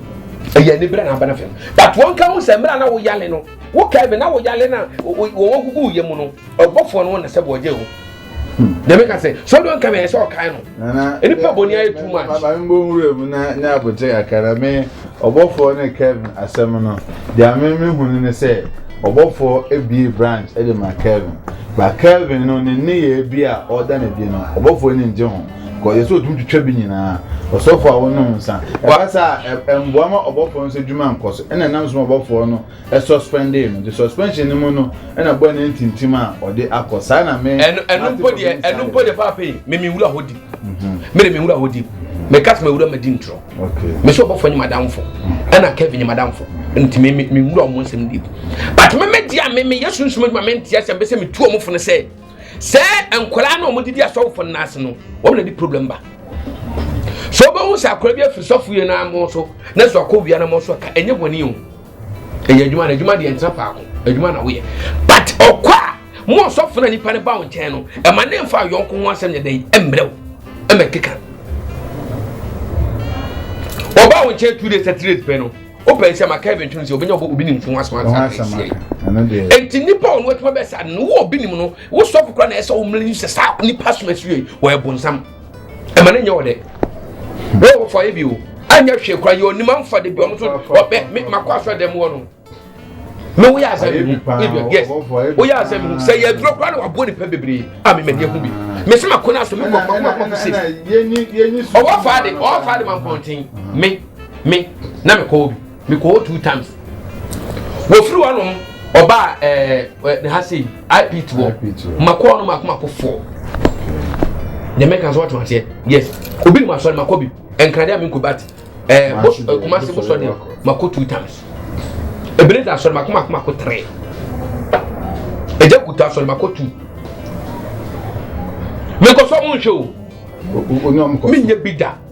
ɛyɛ anibrɛ na aba n'afɛm but wɔn ka ho sɛ mmerɛ na wɔyale no wɔka ɛbɛ na wɔyale na wɔn gugu yɛ mu no ɔbɔfoɔ no wo na sɛ bɔ ɔgye o dɛmɛ ka sɛ sɔɔ dɔn kame ɛsɛ ɔkae no nipa bɔ ni ayɛ too much. maame mbɔ nwura mu na ne abotire kakra na me ɔbɔfoɔ ne kevin asɛm no deɛ me me hu no ne sɛ ɔbɔfoɔ ebie branch ɛde ma kevin ba kevin no ne ne yɛ bi a ɔda na bi no ɔbɔfoɔ ne ngye ho kɔ yɛ sɛ otumi twitwa bi nyinaa ɔsɔfoɔ a wɔnom nsa ɛba saa ɛmboa ma ɔbɔfoɔ nso adwuma nkɔ so ɛna ɛnam so ma ɔbɔfoɔ no suspendee no nti suspension no mu no na boy no antintim a ɔde akɔ saa na me ɛno ɛno mpo deɛ ɛno mpo deɛ paapa yi me me wura hɔ di me de me wura hɔ di me ka sɛ wura ma di ntorɔ me sɛ ɔbɔfo nye madamfo ɛna kevin nye madamfo nti me me wura ɔmo nsɛm di but me me di a me me yɛ sunsun adwuma me nti ɛsɛ mbɛsɛ me tu ɔmo fo no sɛ sɛ nkwadaa na ɔmo didi asɔfo no n'ase no wɔn na di problem ba sɛ ɔbɛhu sɛ akwadaa bi afiri sɔfo yɛ n'amo so na sɛ ɔkɔ wia n'amo so ka ɛnyɛ wɔn ni o. ɛyɛ adwuma na adwuma deɛ ntena faako adwuma na woyɛ but ɔkɔ a mo ɔsɔfo na nipa no ba wo nkyɛn no ɛma ne nfa yɔnko ho asɛm yɛ dɛn ɛmmerɛ wo ɛmɛ keka ɔba wo nkyɛn two days three days pɛ no wopɛ nsɛm a kevin twene sɛ obɛnya ɔbɔ obi nim fo asoma nsasie enti nnipa a ɔno atuma bɛsa no wo obi nim no wosɔfo kora na ɛsɛ wo mmere sɛ saa nnipa som asue wɔyɛ bonsam ɛma ne nyɛ ɔdɛ wɔn wɔfɔ ayɛ bi o anyɛ hwee kora yɛ onim anfa de bi ɔno so ɔbɛ me makɔ asɔ dɛm wɔ no me woyɛ asɛ me hu ebia yes woyɛ asɛ me hu sɛ yɛ aduro kora na waboɔ nipa bebree a me mɛni ehu bi me sɛ makɔ no aso me kɔ kɔ kɔ kɔ se ɔwɔ fa de ɔwɔ fa de ma mpɔnten me me na me kɔ obi. mekɔ hɔ two times wɔfiri hɔ nom ɔbaa ɛɛ ne ha sei ip toɔ makɔɔ no mako mako foɔ deɛ mɛka sɛ wɔtena aseɛ yes obi nim asɔre makɔ bi nkrade a menkɔ bat ɛɛ bos kumase bosɔ deɛ makɔ two times ebire da asɔre mako mako mako tere ɛgya kuta asɔre mako two mekɔ sɔ mo nhwɛ o menyɛ bi da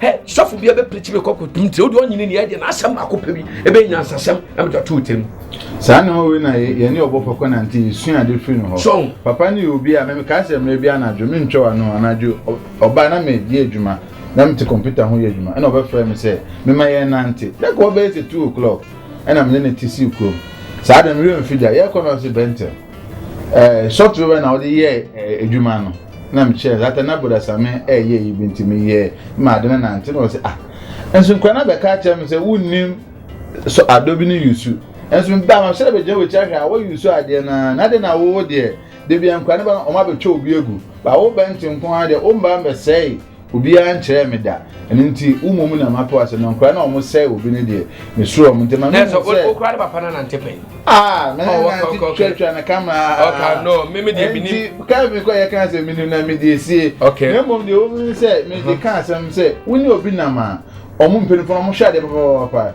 Hɛ, sɔfo bia bɛ pirikyi bɛ kɔ kɔ tum tiri, o de ɔnyi ne ni ɛdeɛ n'asɛm baako pɛ bi, ebe nya nsasɛm, ɛmɛ tɔ tuu tiri. Saa ne hɔ wei na yɛ, yɛne ɔbɔ fɔ kɔ nante, yɛ sua ade firi ne hɔ. Sɔn. Papa ne yɛ obi a, mɛ me kaa sɛ mmerɛ bi anadwo, me ntwɛ wa no, anadwo, ɔbaa na me yɛ adwuma, na me te kɔmputa ho yɛ adwuma, ɛna ɔbɛ frɛ me sɛ, me ma yɛn nante, na nka ɔbɛyɛ sɛ two o'clock, ɛna me ne no te sii kurom. Saa de, me werɛ mfiri deɛ, yɛrekɔ no ɔse Bɛntɛl, ɛɛ, short river na ɔde yɛɛ, ɛɛ, adwuma no. na mekyerɛɛ Zata na Bodasame ɛɛyɛ yi bi nti meyɛɛ ma ade no nante na ɔsɛ ah nso nkura no abɛka akyerɛ me sɛ wonnim so adɔ bi ne yusu nso meba ma hyɛrɛ bɛgyina wɔkyi ahwɛ a wɔyɛ yusu adeɛ no na adeɛ na wowo deɛ debia nkura no ba no ɔma bɛtwa obi agu ba wo bɛnte nko ara deɛ wo mba mbɛsɛe Obiara nkyerɛɛ me da, ɛno nti wo mmom na mato ase, na nkora no a wɔsɛe obi no deɛ, mesuro wɔn. Enti ma mehu sɛ. Nanso wo koraa ne papa no anante pɛn. Ah, me ne nante twatwa no kama aa. Ɔka no, me me deɛ menim. Enti kaa me kɔ yɛ kaa sɛ menim na me deɛ sie. Okay. Na mmom deɛ wɔn mu ne sɛ me de kaa asɛm sɛ wo ne obi nam a, wɔn mpanyinfoɔ no wɔhwɛ adeɛ papapapa.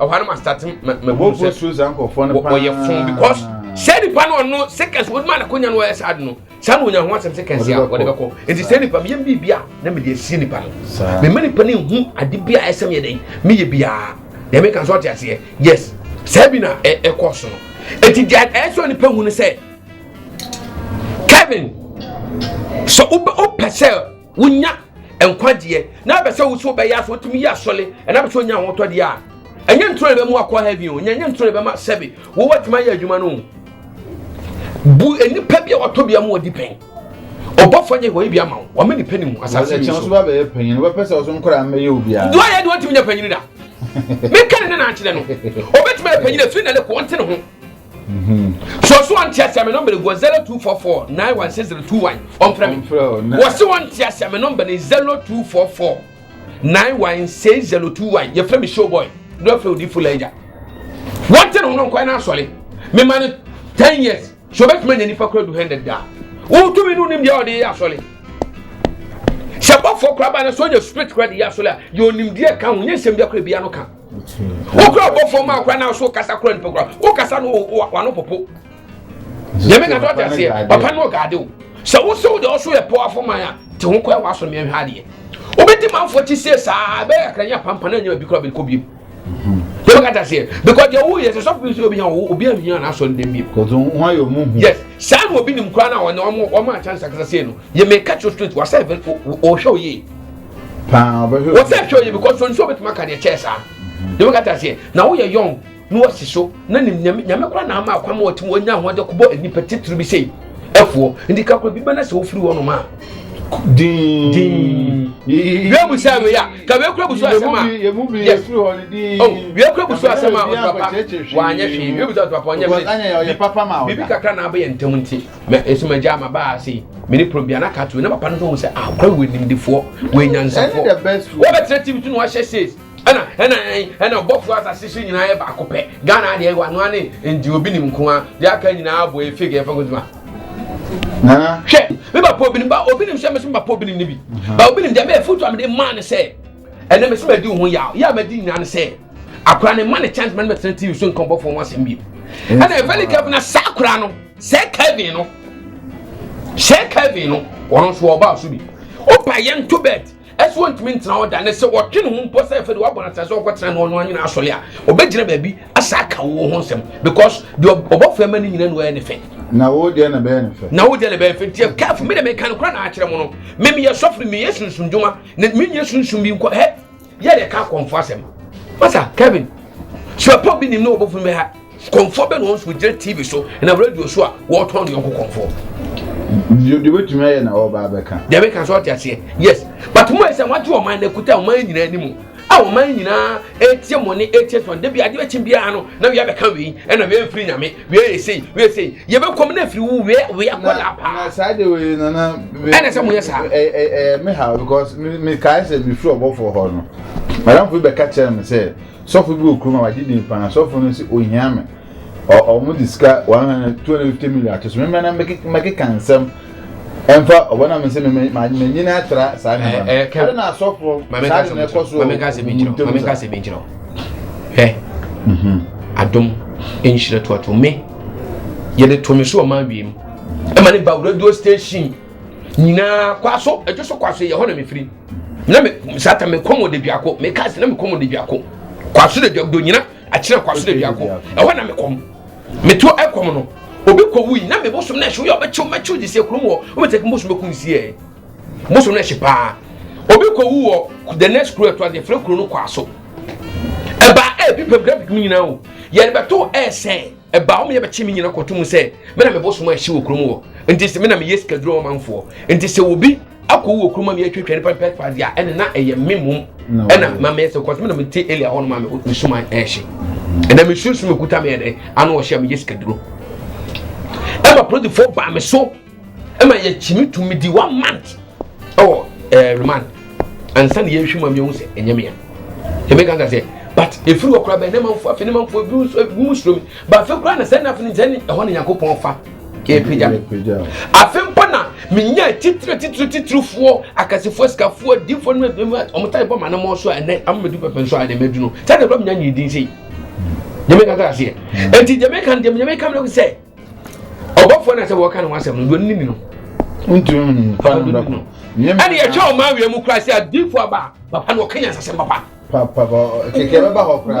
ɛhɔ no ma start mabu sɛ wɔyɛ fon because sɛ nipa no ɔno seconds wɔde ma n'akonya no ɔyɛ saa de no saa na onya ho asɛm seconds a wɔde bɛkɔ nti sɛ nipa meyɛ biribi a na mede asie nipa no mema nipa no nhu ade bi a ɛsɛ meyɛ dɛn meyɛ biara deɛ meka sɛ ɔte aseɛ yes saa bi na ɛkɔ so no ɛti deɛ ɛsɛ nipa hu no sɛ kevin sɛ wopɛ sɛ wonya nkwagyeɛ na bɛ sɛ wo so bɛyɛ aso wotumi yɛ asɔle ɛna bɛ sɛ onya ahotɔdeɛ a ɛnyɛ ntoro na bɛmu akɔ heaven o nyɛnyɛ ntoro na bɛma sɛbe wowɔ atumi ayɛ adwuma no bu nnipa bi a wɔtɔ bia mu wɔdi pɛn ɔbɔfoɔ nyɛ wɔyɛ bi ama wo wɔma nipa ni mu asase bi so so bɛyɛ panyin no bɛpɛ sɛ ɔso nkora mmɛyɛ obiara do ayɛ de wɔtumi nya panyin da meka ne ne naakyerɛ no ɔbɛtumi ayɛ panyin afiri na ne kɔ ɔnte ne ho So ɔso wɔn nteaseɛ me nɔmba no gu zero two four four nine one six zero two one ɔmfrɛ me wɔse wɔn nteaseɛ me nɔmba no zero two four four nine one six zero two one yɛfrɛ me show boy ne ɔfrɛ odi fo lɛgya wɔnte ne ho no nkwan no asɔre mema no ten years so ɔbɛtumi anya nipa kora du hundred daa wotumi no nim deɛ ɔde yɛ asɔre sɛ bɔfoɔ kora ba no sɛ ɔnya spirit kora de yɛ asɔre a deɛ ɔnimdeɛ ka ho nyɛ nsɛm biakora bia no ka wokura bɔ fam akora na so kasa kora nipa kora wokasa no wano popo nyame na dɔte aseɛ papa no ɔgaade wo sɛ wo sɛ wode ɔso yɛ pɔ afoman a te ho kɔɛ w'aso meɛ hwɛ adeɛ wobɛdi manfoɔ ti sie saa bɛyɛ akra nyɛ pampa na nyɛ bi kora bɛkɔ biem yɛ bɛka ta seɛ because deɛ woyɛ sɛ sɔfo bi sɛ obi hia wo obi ahia na asɔ ndɛm biem yes saa na obi nim kora na ɔne ɔmo ɔmo akyɛ nsakasa sei no yɛ mɛka kyerɛ straight wasɛ ɔhwɛ oyie wɔsɛ hwɛ ɔyɛ because wɔn nso wɔbɛtumi aka deɛ kyɛɛ saa deɛ wɔn kata seɛ na wɔyɛ yɔn na wɔsi so na nim nyame nyame kora na ama akwa ma wɔtumi wɔnya ahoɔden kɔbɔ nnipa titiri bi sei ɛfoɔ nti kakora bi bɛna sɛ wofiri wɔn nom a din din wia busa wei a ka wia kura busu asɛm a yes oh wia kura busu asɛm a ɔtɔ papa wanyɛ hwee wia busa ɔtɔ papa ɔnyɛ hwee bibi kakra na abɛyɛ ntɛm nti. mɛ nso mɛ gya ma baa se mɛ ne prom bia na ka to na papa no nso sɛ ah kura wɔ nimdefoɔ wɔ nyansafoɔ wɔ bɛ tẹrẹ tv to na wahyɛ says ɛna ɛna ɛna ɔbɔfo asase so nyinaa yɛ baako pɛ ghana adeɛ wɔ anoa ne nti obi nim nko a deɛ aka nyinaa abɔ yɛ fake ɛfɛ nkotuma nana hwɛ mi ba pɔ obinim ba obinim sɛ mɛ sɛ mi ba pɔ obinim ne bi ba obinim deɛ mɛ efutu amede maa ne sɛ ɛnna mɛ sɛ mɛ di ho yaw yaw mɛ di nyinaa ne sɛ akora ne ma ne chance mɛ ne mɛ tẹrɛ tv so nkɔnbɔfo wɔn asɛm bi ɛna ɛfɛ ne kɛfɛ na saa akora no. sɛ kevin no sɛ kevin no ɔno nso ɔbaa so bi ɔba yɛ nto bɛt ɛsɛ wɔntumi ntena hɔ da ne sɛ ɔtwe ne ho mpo sɛ ɛfɛ de wabɔ n'asase sɛ ɔkɔtena ne ɔno anyina asɔre a ɔbɛgyina baabi asa aka wo ho nsɛm because deɛ ɔbɔ fɛ ma ne nyina no ɛyɛ ne fɛ na wo deɛ na bɛyɛ ne fɛ na wo deɛ na bɛyɛ fɛ nti careful me de meka no kora na akyerɛ mo no me meyɛ sɔfo no meyɛ sunsum dwuma na menyɛ sunsum bi nkɔ hɛ yɛ de ka kɔnfɔ asɛm masa kevin suapɔ bi nim ne wɔbɔfo bɛ ha kɔnfɔ bɛ na wɔn so gyina tv so na radio so a wɔtɔn ne yɔnko kɔnfɔ deɛ wɔtumi ayɛ na wɔba abɛka deɛ bɛka so ɔte aseɛ yes but mo ɛsɛ wɔagye ɔman no akuta ɔman nyinaa anim a ɔman nyinaa ɛtie mo ne ɛtie so da bi adeɛ bɛkye biara no na wei abɛka wei ɛna wei mfiri nyame wia yɛ sei wia yɛ sei yɛbɛkɔ mu na afiri wo wia wia kɔ la paa. na saa de wei nana. ɛna sɛ mo yɛ saa. ɛ ɛ ɛ mi ha because mi mi kae sɛ mi firi ɔbɔfo hɔ no madamfo bi bɛka kyerɛ mi sɛ sɔfo bi wɔ kurom a wagye din paa sɔfo no sɛ ohia mi ɔ ɔmo de sika one hundred two hundred fifty million ato so mi mɛ na mɛkeka nsɛm. ɛmfa ɔbɔ na me sɛ m'anyini atra saa nneɛma no ɛde na asɔfoɔ saa de na ɛkɔ so mame nkasa bi nkyerɛ mame nkasa bi nkyerɛ hɛ mhm. adom nhyira tuato me yɛde to me so ɔman wiem ɛma ne ba radio station nyinaa kwaso ɛdwo so kwaso yɛ hɔ na mefiri na me sata mekɔm wɔ de biako meka se na mekɔm wɔ de biako kwaso de biako do nyina akyerɛ kwaso da biako ɛhɔ na mekɔm meto ɛkɔm no obi kɔ wuyi na me bosom na ɛhye woyɛ ɔbɛkyew mɛkyew de sie kurom wɔ wobɛtɛ kum bosom bɛkum sie bosom na ɛhye paa obi kɔ wu wɔ the next kuro ɛto ase yɛfrɛ kuro no kwaso ɛbaa ɛbi pɛm graphic mu nyinaa o yɛde bɛto ɛsɛn ɛbaa wɔn yɛ bɛkye me nyina kɔto mu sɛ me na me bosom a ɛhye wɔ kurom wɔ nti sɛ me na meyɛ sikaduro ɔmanfoɔ nti sɛ obi akɔwu wɔ kurom a meyɛ twatwa nipa mpɛ kpa deɛ ɛne na ɛyɛ me mom ɛna ma meyɛ sɛ kɔsɛ me na mete elia hɔ no ma me suma ɛhye ɛna me sunsun me kuta me ɛdɛ ano ɔhyɛ a meyɛ sikaduro ɛma polisifoɔ baa me so ɛma yɛkyimi tumi di one month ɛwɔ ɛɛ eh, remand ansa na yɛhwɛ mu a yɛhu sɛ ɛnyɛ mea ɛmi kanka sɛ but efiri wɔ koraa bɛn ne manfo afei ne manfo ebi nso ebi mu suro mi ba afei koraa na sɛ na afei ne sɛ ne ɛhɔ ne nyankopɔn fa ɛpagya mi afei mpo na menya titire titire titirifoɔ akasifoɔ sikafoɔ adiifoɔ no ebi mu a wɔn ta ɛbɔ ma ne mɔ so a ɛnɛ amadu pɛpɛ nso a ɛnɛ mɛdu no sɛ ɛdɛ bɛ mu nya nyi din sɛ yi jamaica kra seɛ eti jamaica deɛ jamaica mi na ko sɛ. ɔbɔfoɔ na sɛ wɔka ne ho asɛm no deɛ ɔnim no wontumi hu nipa no bɛko ɛne yɛtwa ɔma awia mu kora sɛ adifo aba papa na ɔka nyansasɛm papa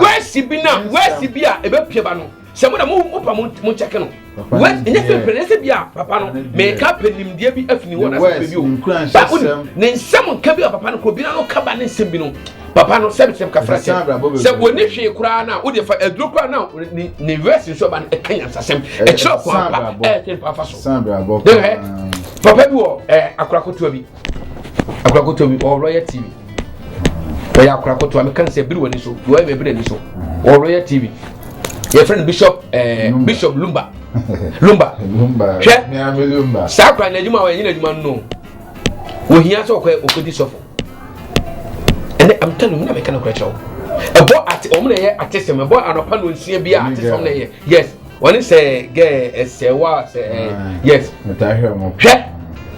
wɛsi bi na wɛsi bi a ɛbɛpia ba no sɛ mo na mo pa mo nkyɛke no ɛnyɛ pɛpɛ ne sɛ bi a papa no meka pɛ nimdeɛ bi afini wɔ nasɛ pɛ bi o ba wo ne nsɛm nka bi a papa no kɔ bi na no ka ba ne nsɛm bi no papa no sɛbi sɛbi kafra sɛ sɛ wɔni hwee koraa na o de fa aduro koraa na ne ne verse nso ba no ɛka nyansasɛm ɛkyerɛ ɔkɔn apa ɛyɛ tɛ nipa afa so ɛhɛ papa bi wɔ ɛɛ akorakotoa bi akorakotoa bi ɔwɔ lɔya tv ɔyɛ akorakotoa mi kan sɛ biri wɔ ni so lɔya mi biri ni so ɔwɔ lɔya tv yɛfrɛ no bishop eh, bishop lumba lumba hwɛ saa kora n'adwuma a ɔyɛ nyina adwuma no wɔhia sɛ ɔkɔ ɔkɔdi sɔfo ɛnɛ am telling mu na meka no korɛ kyerɛ wo ɛbɔ ate ɔmo na ɛyɛ ate sɛm ɛbɔ anɔpa no nsia bi a ate sɛm na ɛyɛ yes wɔne sɛ gɛɛ ɛsɛ wa sɛ ɛɛ yes hwɛ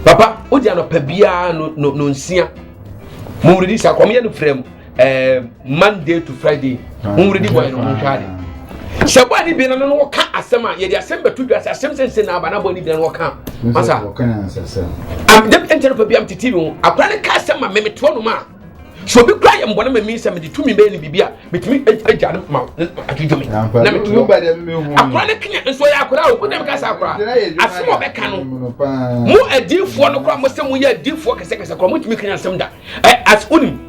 papa wodi anɔpa biara no no no nsia mo wuridi sa kɔm yɛ no frɛ mu eh, monday to friday honwere di bɔyɛ no ho nhwɛ ade sɛ bɔyɛ ne bia no no wɔka asɛm a yɛde asɛm bɛto dwa sɛ asɛm sɛnsɛ na aba na bɔyɛ ne bia no wɔka masa ɛnkyɛ no pa bia mete tv ho akora ne ka asɛm ma memeteɔ nom a sɛ obi kura yɛ mbɔne ma mi sɛ mede tumi bɛyɛ no biribi a metumi agya no ma adwodwo me na meto akora ne kenya nso ɔyɛ akora a ɔbɛdam ka sɛ akora asɛm ɔbɛka no mo adiifoɔ no kora mo sɛ moyɛ adiifoɔ kɛsɛkɛsɛ kora motumi kenya asɛm da as wonim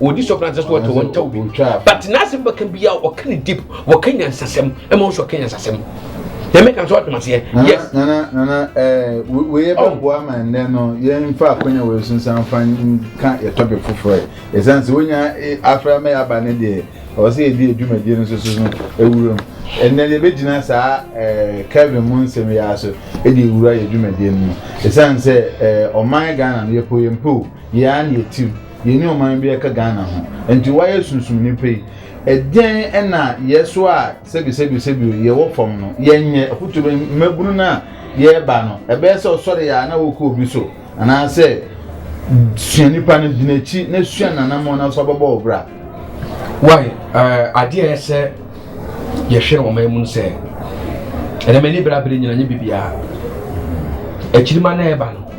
wɔdi sɔfo n'asɛm so wɔtɔ wɔn ntaw bi but n'asɛm bɛka bi a ɔka ne deep wɔka nyansasɛm ɛma nso ɔka nyansasɛm yɛmɛ kan so ɔtɔm aseɛ yes. nana nana ɛɛ wei bɛ bu ama nnɛ no yɛn fa akonya wei so nsa nfa nka yɛ tɔpi foforɔ yɛ ɛsan sɛ wonya afra mɛ aba ne deɛ ɔsɛ yɛ di adwumadie no soso no ewura mu ɛnna deɛ bɛ gyina saa ɛɛ kevin mu nsɛm yɛ aso ɛde ewura yɛ adwumadie no mu ɛsan sɛ ɛɛ ɔman ghana no yɛ po yɛn po yɛ an yɛ tiw. Yɛnni ɔman bi a ɛka Ghana ho. Enti woayɛ sunsumni pa yi. Ɛdeɛn na yɛ so a sɛbisɛbisɛbio yɛwɔ fam no yɛnyɛ? Afotuo bɛn? Mmabunu no a yɛreba no, ɛbɛyɛ sɛ ɔsɔre yɛ a na wokɔ obi so anaasɛ sua nipa no, di n'akyi na sua n'anammɔn na so abɛbɔ wo bra. Wai adeɛ a ɛyɛ sɛ yɛhwɛ no ɔman mu no sɛ ɛnam ani bra bere nyina nyɛ biribiara akyirima na ɛba no.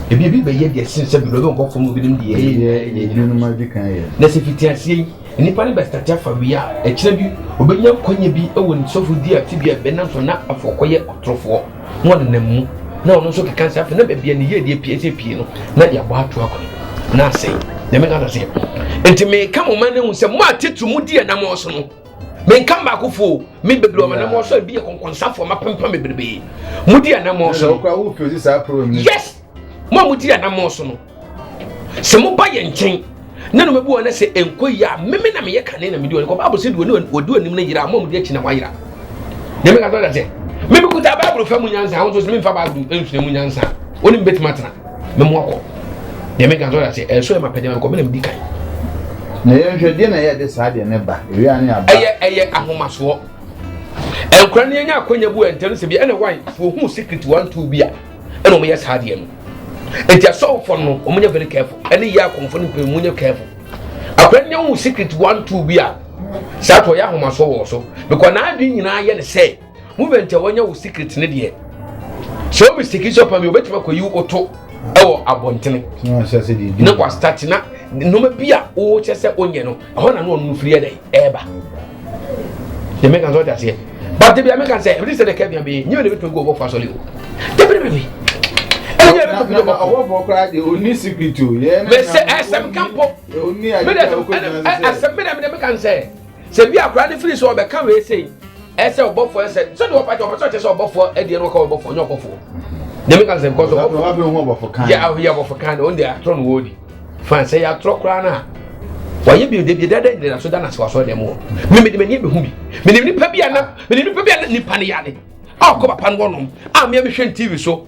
Ebia ebi bɛyɛ deɛ ɛsen sɛ bebree bɛbɔ fam binom deɛ ɛyɛ nyinaa ɛnyɛ nyinaa. Ebinom adi kan yɛ. Na sɛ fiti aseɛ yi nnipa no bɛstate afa wie a, ɛkyerɛ bi obɛnya nkwanya bi wɔ ne sɔfo di afe bi a ɛbɛnam so na afɔ kɔyɛ ɔtorofoɔ na ɔnenam mu na ɔno nso keka sɛ afei na baabi a ne yie deɛ pie sɛ pie no na yɛabɔ ato akɔ na asɛe nyame ka sɛ nti meka mo ma no hu sɛ mo a titiri mu di ɛnam ɔso no menka mmaakofo o me bebree ɔmo anamɔ so ebi yɛ kɔnkɔnsafo ɔmo apempam bebrebe mo di anamɔ so yes mo a mo di anamɔ so no sɛ mo ba yɛ nkyɛn na no mebu ɔne sɛ enko yi a meme na meyɛ kane na medi ɔne kɔ baabo sɛ di ɔne ɔdi ɔnim no yira mo a mo di akyi na wayira nyame ka sɛ ɔda sɛ meme kuta baabo fa mu nyansa ahosuo sɛ memfa baabo nsua mu nyansa ɔne mbɛtumi atena Me mu akɔ. Deɛ me kan sɛ ɔda sɛ ɛso yɛ ma pɛ deɛ ma kɔ me na me di kan. Na yɛn hwɛ deɛ na yɛ de saa deɛ ne ba ewia ne aba. Ɛyɛ ɛyɛ ahomasoɔ. Nkura ne yɛnya akonya bu ɛntɛm sɛ bi ɛna wan fo ohun secret one two bi a ɛna wɔn yɛ saa deɛ no. Eti asɔfo no wɔn nyɛ very careful ɛne yɛ akɔnfo no mpɛ wɔn nyɛ careful. Akura ne yɛn hu secret one two bi a saa to yɛ ahomasoɔ wɔ so because n'adwene nyinaa yɛ ne sɛ. movement a wɔanya wo secret ne deɛ sɛ wo mistake sɛ ɔpam yɛ wobɛtumi akɔyi wo to ɛwɔ abɔntene na wastate na nnoɔma bi a wokyɛ sɛ wonyɛ no ɛhɔ na no ɔno firi ɛdɛ ɛɛba deɛ meka sɛ ɔde aseɛ but de bia meka sɛ ɛbɛte sɛ dɛka bia bɛyɛ nyɛ ne bɛtumi gu ɔbɔfo asɔre o dɛbɛdɛbɛbi mɛsɛ ɛsɛm ka mpɔ mɛdɛ ɛsɛm mɛdɛ mɛdɛ meka sɛ Sɛ bi a akwadaa no firi sɛ ɔbɛka wei sei ɛsɛ ɔbɔfoɔ ɛsɛ sɛdeɛ ɔpɛ kyɛ ɔpɛ sɛ ɔkyɛ sɛ ɔbɔfoɔ ɛdeɛ no ɔka ɔbɔfoɔ ɔnyɛ ɔbɔfoɔ nyame ka sɛ nkɔ so ɔbɔfoɔ yɛ ahoyɛ ɔbɔfoɔ kan no ɔnde atorɔ no wɔdi fan sɛ yɛatorɔ koraa no a wɔyɛ bi ɔde bi dada nyina so da no ase wɔ asɔre dɛm wɔ me mede m'ani ɛbɛhu bi menim nipa bi a na menim nipa bi a na nipa no yare a ɔkɔ papa no wɔnom a meɛ mehwɛ tv so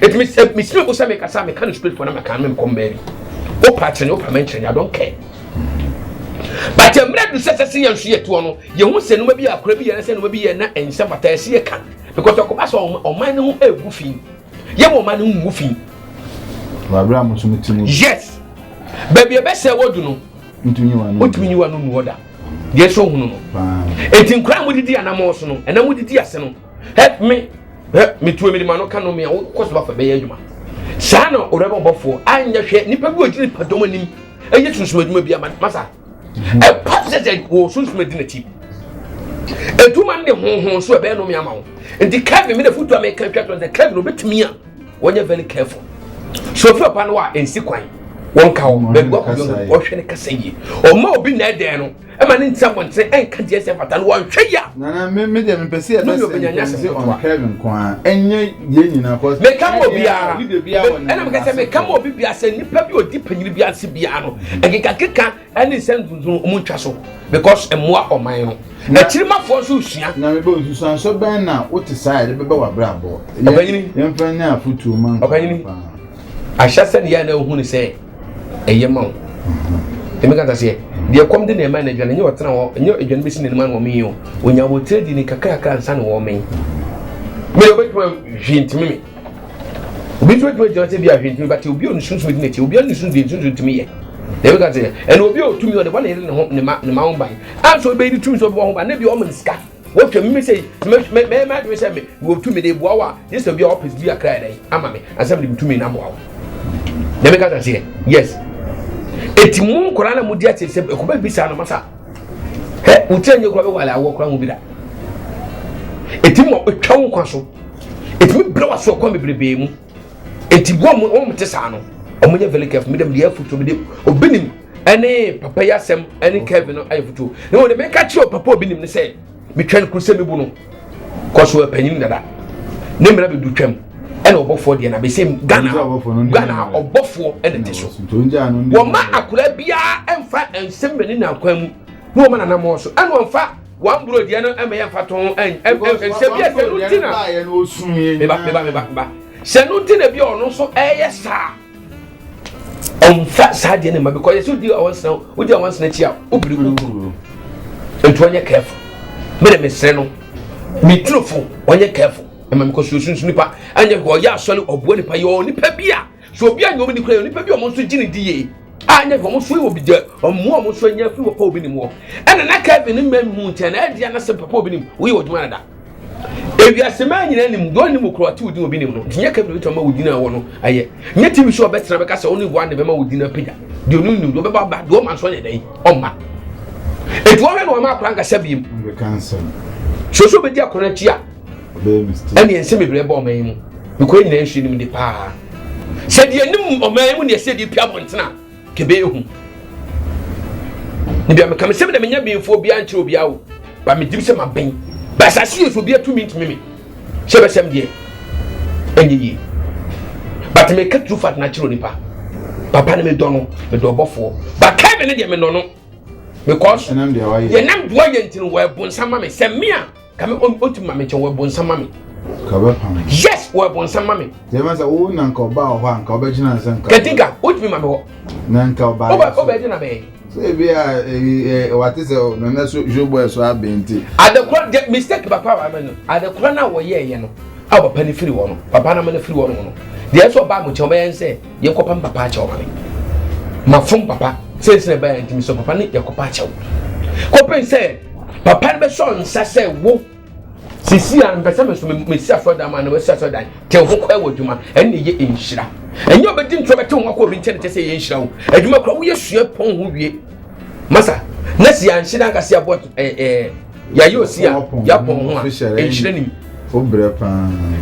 Eti me sɛ me srɛ bo sɛ mekasa meka no straight for na maka no menkɔ mmaa bi. Wopa akyerɛ wopa mɛnkyerɛ I don't care. But mmerɛ du sɛ sɛ sɛ yɛn nso yɛ toɔ no yɛhu sɛ nneɛma bi yɛ akora bi yɛ na sɛ nneɛma bi yɛ na ɛnsɛ fata ɛsɛ yɛ ka because ɛkɔba sɛ ɔman no ho ɛgu fi yɛ wɔ ɔman no ho ngu fi. Wabere a mo nso mo ti mu. Yes. Baabi ɛbɛsɛ wɔdu no. Ntumi nyiwa no. Ntumi nyiwa no nu ɔda. Deɛ ɛsɛ ohunu no. Eti nkura a mo didi anamɔ so no ɛna mo didi ase no. help me help me tuo mi de ma no ka no mi a wokɔ so bafo bɛyɛ adwuma saa na ɔrɛbɔ bɔfoɔ anyɛ hwɛ nipa bi ɔgyina nipa dɔm anim ɛyɛ sunsun adwuma bi ama masa ɛpa sɛ sɛ wɔ sunsun adi n'akyi adwuma no de honhon so ɛbɛyɛ nom ama wo nti kevin mi na futu a meka twa tɔ sɛ kevin obɛtumi a wɔnyɛ very careful so ofiri ɔpa no a ɛnsi kwan wɔn ka wɔn baabi wɔkɔ yɔn wɔhwɛ ne kasa yie ɔma obi na ɛdɛn no ɛma ne nti abɔnten ɛnka deɛ ɛsɛ fata no wɔnhwɛ yia. nana me me deɛ mepɛ sɛ yɛbɛ sɛ nkɔmsɛ on curve nko a ɛnyɛ yɛn nyinaa kɔ. meka ma obiara ɛna meka sɛ meka ma obi biara sɛ nipa bi odi panyin bi ase biara no mm. ɛkekakeka ɛne nsɛm dundun ɔmo ntwa so because ɛmoa ɔman no akyirimafoɔ nso sua. na mebɛ nsusuansɔ bɛn na wote saa yɛde bɛbɛ wɔ abrabɔ yɛmfa nyɛ afotuo ma nkɔ paa ahyɛ sɛ ne yɛ na ohun sɛ ɛyɛ ma wo ɛmi kata seɛ deɛ kɔm de na ɛma na adwane nyɛ ɔtena hɔ nyɛ adwane bɛsi n'anim ano wɔmee o ɔnya wɔ tire di ne kakrakra nsa ne wɔmee me yɛ obɛtuma hwee ntimi me obi nso bɛtuma gyina sɛ bi a hwee ntimi bate obi a ɔne sunsun di n'akyi obi a ne sunsun di sunsun ntimi yɛ na ɛmi kata seɛ ɛna obi a ɔtumi ɔde bɔ ne yere ne ho ne ma ne ma ho ban anso ɔbɛyi ne tumi nso ɔbɛbɔ ho ban ne bi ɔmo ne sika Wotwa mu sɛ mɛyɛ m'adwene sɛ mewɔ tumi de boa wo a gye sɛ obi a ɔpɛ bi akra dɛn ama me asɛm de metumi na boa wo na meka sɛ seɛ yes ɛti mo nkora na modi ate sɛ ɛkɔbɛ bi saa na masa hɛ wotira nyɛ kora bɛwale awoɔ kora ho bi da ɛti ma ɛtwa wo nkwa so ɛtumi berɛ waso ɛkwan bebrebee mu Eti wɔn a wɔn te saa no, wɔn nyɛ very careful. Mi dɛm deɛ afutuo mi de obi nim ɛne papa yi asɛm ɛne Kevin no ayɛ futuo. Na wɔn de mi ka kyerɛ papa obi nim ne sɛ mi twɛn kuru sɛ mi bu no kɔso ɛpanyin dada. Ne mmerɛ bi du twɛm ɛna ɔbɔfoɔ deɛ na bɛ sɛ Ghana Ghana ɔbɔfoɔ ɛna te so. Wɔn ma akora biara ɛnfa nsɛm mɛ ne nankwan mu na wɔn ma nanamɔ so ɛna wɔn fa. Wɔn buro deɛ no ɛmɛ yɛ nfa tɔn ɛn ɛn sɛ bi ɛsɛ no ti na meba meba meba meba sɛ no ti na bi ɔno nso ɛyɛ saa ɔnfa saa deɛ ne ma bi kɔ yɛ so di awon sena o di awon sena akyi a o biri biri biri nti ɔnyɛ kɛɛfo mi na mi sere no mi turo fo ɔnyɛ kɛɛfo ɛma mi kɔ sunsun nipa ɛnyɛ ɔyɛ asɔre ɔboa nipa yɛ ɔ nipa bi a. Sɛ obi anyɛ wɔn ni koraa, nnipa bi a wɔn nso gye ne di yie a ɛnyɛ hwɛ wɔn nso wɔ bi deɛ wɔn mu a wɔn nso anya afiri wɔ papa obi nim hɔ ɛna na kevin mma mu nkyɛn na ɛdi anasɛm papa obi nim woyɛ ɔdwuma na da ewiase maa nyinaa nim deɛ ɔnim okoro ate odin obi nim no nti nyɛ kevin bituma ma wɔ din a wɔ no ayɛ nyɛ tv show ɔbɛtena bɛka sɛ ɔne wɔn na bɛma wɔ din apagya deɛ ɔnim nim deɛ ɔbɛba aba deɛ ɔma nso ɔnyɛ dɛn ɔma etu ɔhwɛ na ɔma akora nkasa biem soso bɛdi akora akyi a ɛneɛ nsɛm bebree bɔ ɔman yi mu nokorɛ nyinaa nsuo nim de paa sɛ deɛ nim ɔman yi mu neɛ sɛ deɛ pia abɔntena kɛbɛ ehu ne bia meka me sɛm na menya benfoɔ obiara nkyerɛ obiara o ba medim sɛ maben ba asase yɛ so obiara tumi ntumi me sɛ bɛsɛm deɛ ɛnyɛ yie but meka true fact na kyerɛ onipa papa ne medɔ no medɔ ɔbɔfoɔ ba kae me ne deɛ menɔ no because yɛnam doa yɛ ntini wɔ ɛbonsam ma me sɛ me a Kame o o ti mami kyɛ wɔ ɛbonsa mami. Kame pami. Yes wɔ ɛbonsa mami. Yɛ ma sɛ o na nka ɔba wɔ hɔ a nka ɔbɛ gyina nsɛ nka. Kɛtinka o ti mi mami hɔ. Na nka ɔba yɛ so. O bɛ gyina bɛɛ. So ebi a wate sɛ o na na so show boy so abɛn nti. Adekora de mistake bakɔ a wama no adekora na wɔ yɛ yɛ no a papa ne firi wɔ no papa na ma ne firi wɔ no no deɛ ɛsɛ ɔba mo kyɛn ɔbɛyɛ nsɛ. Yɛ kɔ pam papa akyɛw ma me. Ma fom papa sɛ nsɛn ɛbɛyɛ a ntumi sɔ papa ne yɛ kɔ pa akyɛw. Kɔpem sɛ papa no bɛsɔ nsa sɛ wo sisi a mpɛ sɛ me so me si asɔ dan ma na wasi asɔ dan te ho kɔ ɛwɔ adwuma ɛne yɛ nhyira. Ɛnyɛ ɔbɛdi ntorɔ bɛte ho akɔ obi nkyɛn kyɛ sɛ yɛ nhyira wo. Adwuma kora woyɛ sua pɔn ho wie. masa na si anhyɛ dan kasi abɔ ɛɛ ɛɛ yɛayɛ osi a yɛapɔn ho a nhyerɛ nim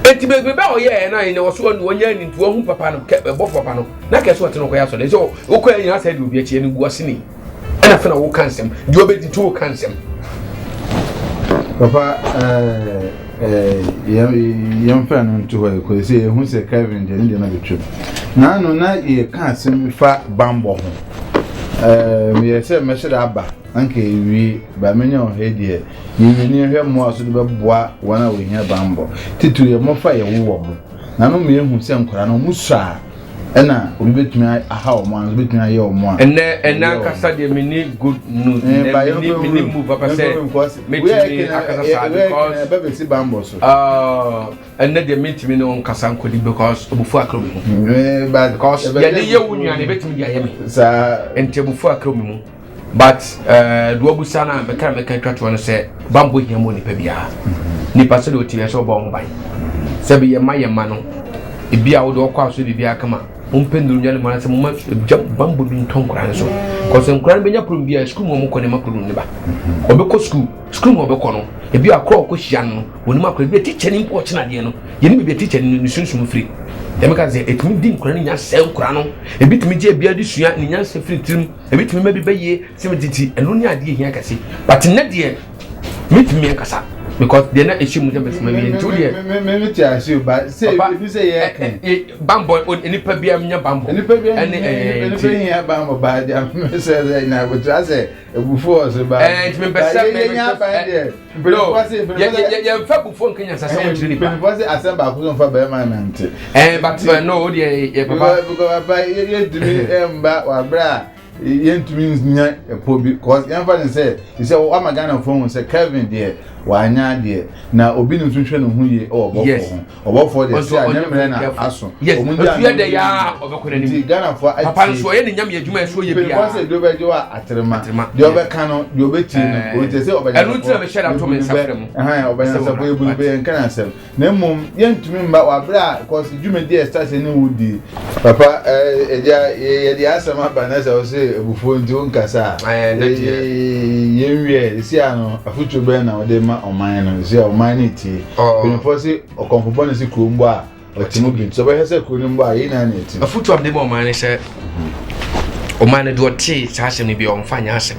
eti beebi bɛ ɔyɛ ɛyɛ naa yɛ na wɔso ɔno wɔnyɛ ne nti wɔn ho papa no kɛ ɛbɔ papa no na kɛse ɔte no kɔyɛ asɔre nso okɔ yɛ nyinaa sɛ ɛde obi akyi ɛne gu ase ne ɛna fɛn na wɔka nsɛm deɛ ɔbɛdi to wɔka nsɛm. papa ɛɛ. Eh, Ɛɛ, yɛmfa no nto hɔ yi, kɔsi sɛ yɛhu sɛ Kevin deɛ ne deɛ no bɛtwam. Naano na yɛka asɛm bi fa bambɔ ho. Ɛɛ, meyɛ sɛ mɛhyɛ dɛ aba, anka yɛwie, ba menya wɔ ha yi deɛ, yɛnwini hwɛ mmoa so de bɛboa wɔn a wɔhia bambɔ. Titiriw yɛ mmɔfra a yɛwowɔ mo. Naano meyɛhu sɛ nkwadaa no, wɔsɔ a, ɛna obi betumi aha wɔn a nso betumi ayɛ wɔn a. ɛnɛ ɛnɛ ankasa deɛ mi ni good news eh, ɛnɛ eh, mi ni mi ni move papa sɛ metumi akasa saa because ɛbɛ bɛ si bambɔ so. ɛnɛ deɛ metumi ne wɔn kasa nkodi because obufu akoro mi mu because yɛde yɛ wo nua na ebetumi de ayɛ mi nti obufu akoro mi mu. But eh, do abusa no a mɛka na mɛka atwa toɔ no sɛ bammɔ hia mu nipa biara mm-hmm. nipa sɛdeɛ ɔteɛ sɛ ɔbɔ ho ban mm-hmm. sɛ bɛyɛ ma yɛ ma no ebi a wode ɔkɔ a so biribiara kama mompɛ nnuru nwa no mu anasɛ moma gya bammɔ bi ntɔ nkora no so kɔsɛ nkora no bɛnya problem biara sukuu mu ɔmokɔ ne ma problem ne ba mm-hmm. ɔbɛkɔ sukuu sukuu mu ɔbɛkɔ no ebi a korɔ ɔkɔ hyia no wɔnim akora ebi a tikya ne mpo ɔkyena adeɛ no yɛne biribi a tikya ne ne sunsum firi ɛmɛka sɛ ɛtumi di nkora no nya sɛ nkora no ebi tumi gye ebi adi sua ne nya sɛ firi tirim Ebetumi ma bi bɛ yie sɛ me titi ɛno ne adeɛ hia kɛse but nnɛ deɛ me tumi me nkasa because deɛ na ɛhyɛ mu sɛ me sima wie nti deɛ. me me me te ase o ba sɛ ebi sɛ yɛ kɛn. Eh, eh, bambɔ eh, nipa bi nya bambɔ. nipa bi ɛne ɛɛ nipa bi hia bambɔ ba deɛ me sɛ sɛ na akotra sɛ ebufu ɔso ba. ɛɛ nti me mpɛ sɛ me me nya ban deɛ. Bro, yɛmfa abufuo nka nyansasɛm eh, nkyerɛ nipa. Mpanyinfoɔ sɛ asɛm baako so mfa bɛrima nante. Ɛn eh, but eh, no o deɛ yɛ papa. Because papa yɛntumi mba wabere a yɛntumi nya ɛpɔ bi cause yɛmfa ne sɛ sɛ wama Ghanafoɔ hu sɛ Kevin deɛ wanya deɛ na obi ne nso hwɛ ne ho yie wɔ bɔfo ho. ɔbɔfoɔ deɛ sɛ anyɛ mmerɛ na aso ɔmo gya ano yɛ yɛ ɔbɛkɔ n'anim nti ghanafoɔ atie papa nso ɔyɛ ne nyame adwuma ɛso yɛ bia papa sɛ ebi ɔbɛgye wɔ aterema deɛ ɔbɛka no deɛ ɔbɛtie no eh. ɔnkyɛ sɛ ɔbɛnya ɛno ntina mehyɛ da to me nsa frɛ mu ɛhan ɔbɛnya sɛ bɔyɛ bu no bɛyɛ nka na asɛm na mmom yɛntumi mma wabrɛ a kɔsi dwumadi a ɛsase ne wo die Papa agya yɛde asɛm aba na sɛ wo sɛ abufuo nti wo nkasa a yɛn wiɛ ɛsi a no afotuo bɛn na wode ma ɔman no ɛsi a ɔman no tie mpanyinfoɔ se ɔkɔmfo bɔ ne se kuro mbɔ a ɔte mu bi nti ɔbɛhwɛ sɛ kuro no mbɔ a yɛn nyinaa na ɛti afotuo a mede ma ɔman no sɛ ɔman no deɛ ɔte saa asɛm no bi a ɔmfa nyɛ asɛm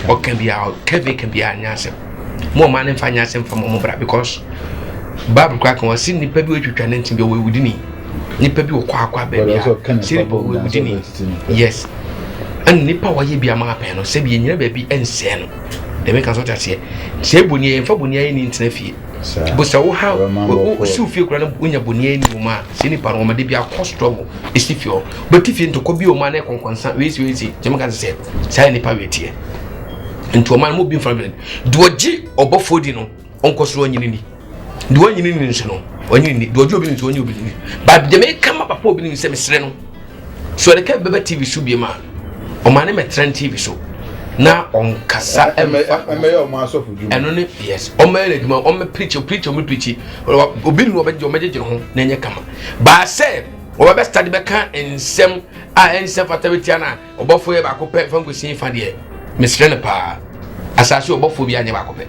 ɔkɛ bia ɔkɛ bi ka bia nyɛ asɛm mo ɔman no nfa nyɛ asɛm fa mo ɔmo bra because bible koraa kan ɔsi nipa bi otwitwa ne nti bi ɔwɔ ewudi ni nipa bi ɔkɔ akɔ abɛbi a siri bi ɔwɔ ewudi ni yes ɛna nipa a ɔyɛ bi ama apɛn no sɛbi enyina baabi ɛnsɛn no dɛm nka so taseɛ sɛ eboni yɛ nfa boni ayɛ ni ntena fie busa wo ha wo si wo fie kura no wonya boni ayɛ ni wɔn a sɛ nipa no wɔn de bi akɔ struggle esi fie hɔ bɛti fie ntɔkɔ bi wɔn a na ɛkɔnkɔnsa wei si wei si dɛm nka sɛ saa nipa wei teɛ. nti ɔma no mu bi nfa no deɛ ɔgye ɔbɔfoɔ di no ɔnkɔ soro ɔnyini ni deɛ ɔnyini ni nso no ɔnyini ni deɛ ɔgye obi ni nso ɔnyini obi ni baabi deɛ meka ma papa obi ni sɛ mesrɛ no so ɛde kɛ bɛbɛ tv so bie ma ɔma ne mɛtena tv so na ɔnkasa ɛmɛfa ɛno ne yes ɔmɛyɛ no adwuma ɔmɛ pirikyi pirikyi ɔmɛ pirikyi obi ni ɔbɛgye ɔmɛgyegye ho na ɛnyɛ kama baasɛ ɔbɛbɛ stade bɛka nsɛm a ɛnsɛ fata bɛtia no a Ɔbɔfoɔ yɛ baako pɛ fa nkosi fa deɛ mesrɛ no paa asase ɔbɔfoɔ bi anyɛ baako pɛ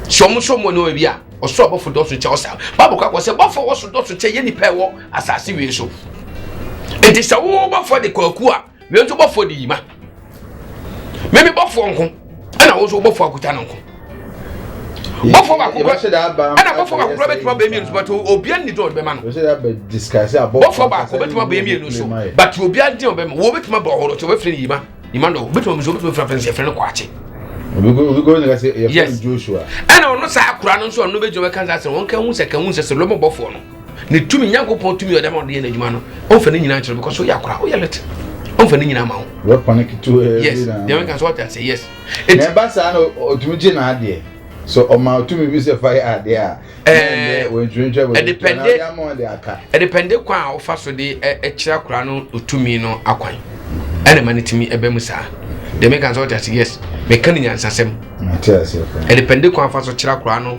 sɛ ɔmo sɔ mo ne ɔbi a ɔsɔ ɔbɔfo dɔso kyɛ ɔsa bible kakɔ sɛ bɔfo ɔwɔ so dɔso kyɛ yɛ nipa ɛwɔ asase wie so nti sɛ wo bɔfo de kwaku a wei nso bɔfo de yima meme bɔfoɔ nko ɛna wo nso wobɔfoɔ akuta no nko bɔfoɔ baako ɛna bɔfoɔ baako kura bɛtuma bɛyɛ mmienu so but obia nni dɔn bɛma no bɔfoɔ baako bɛtuma bɛyɛ mmienu so but obia nni dɔn bɛma wɔn bɛtuma bɔ ɔhoro so wɔbɛfiri ne yima yima dɔn bɛtuma mu so wɔbɛtuma fira fɛn sɛ fɛn no kɔ akye yes ɛna ɔno saa akura no nso ɔno bɛgyina bɛka sɛ wɔn ka hu sɛ ka hu sɛ sɛ lɔmɔ bɔfoɔ no Ne tumi, Nyankopɔn tumi ɔde ama ɔde yɛ n'adwuma no, ɔmfa ne nyina nkyerɛ because woyɛ akora, woyɛ lete. Ɔmfa ne nyina ma wo. Wɔpa no ketewa bi na. Yes, deɛ meka sɛ ɔte ase, yes. Na ɛba saa na ɔtumi gye n'adeɛ. So ɔma ɔtumi bi sɛ fa yɛ adeɛ a. Ɛɛ wɔntwerɛntwerɛ bɔ ɛdepɛnde ɛdepɛnde kwan a wofa so de ɛkyerɛ akora no ɔtumi no akwan ɛna ma no tumi ɛbɛ mu saa deɛ meka sɛ ɔte ase yes meka ne nyansasɛm ɛdepɛnde kwan afa so kyerɛ akora no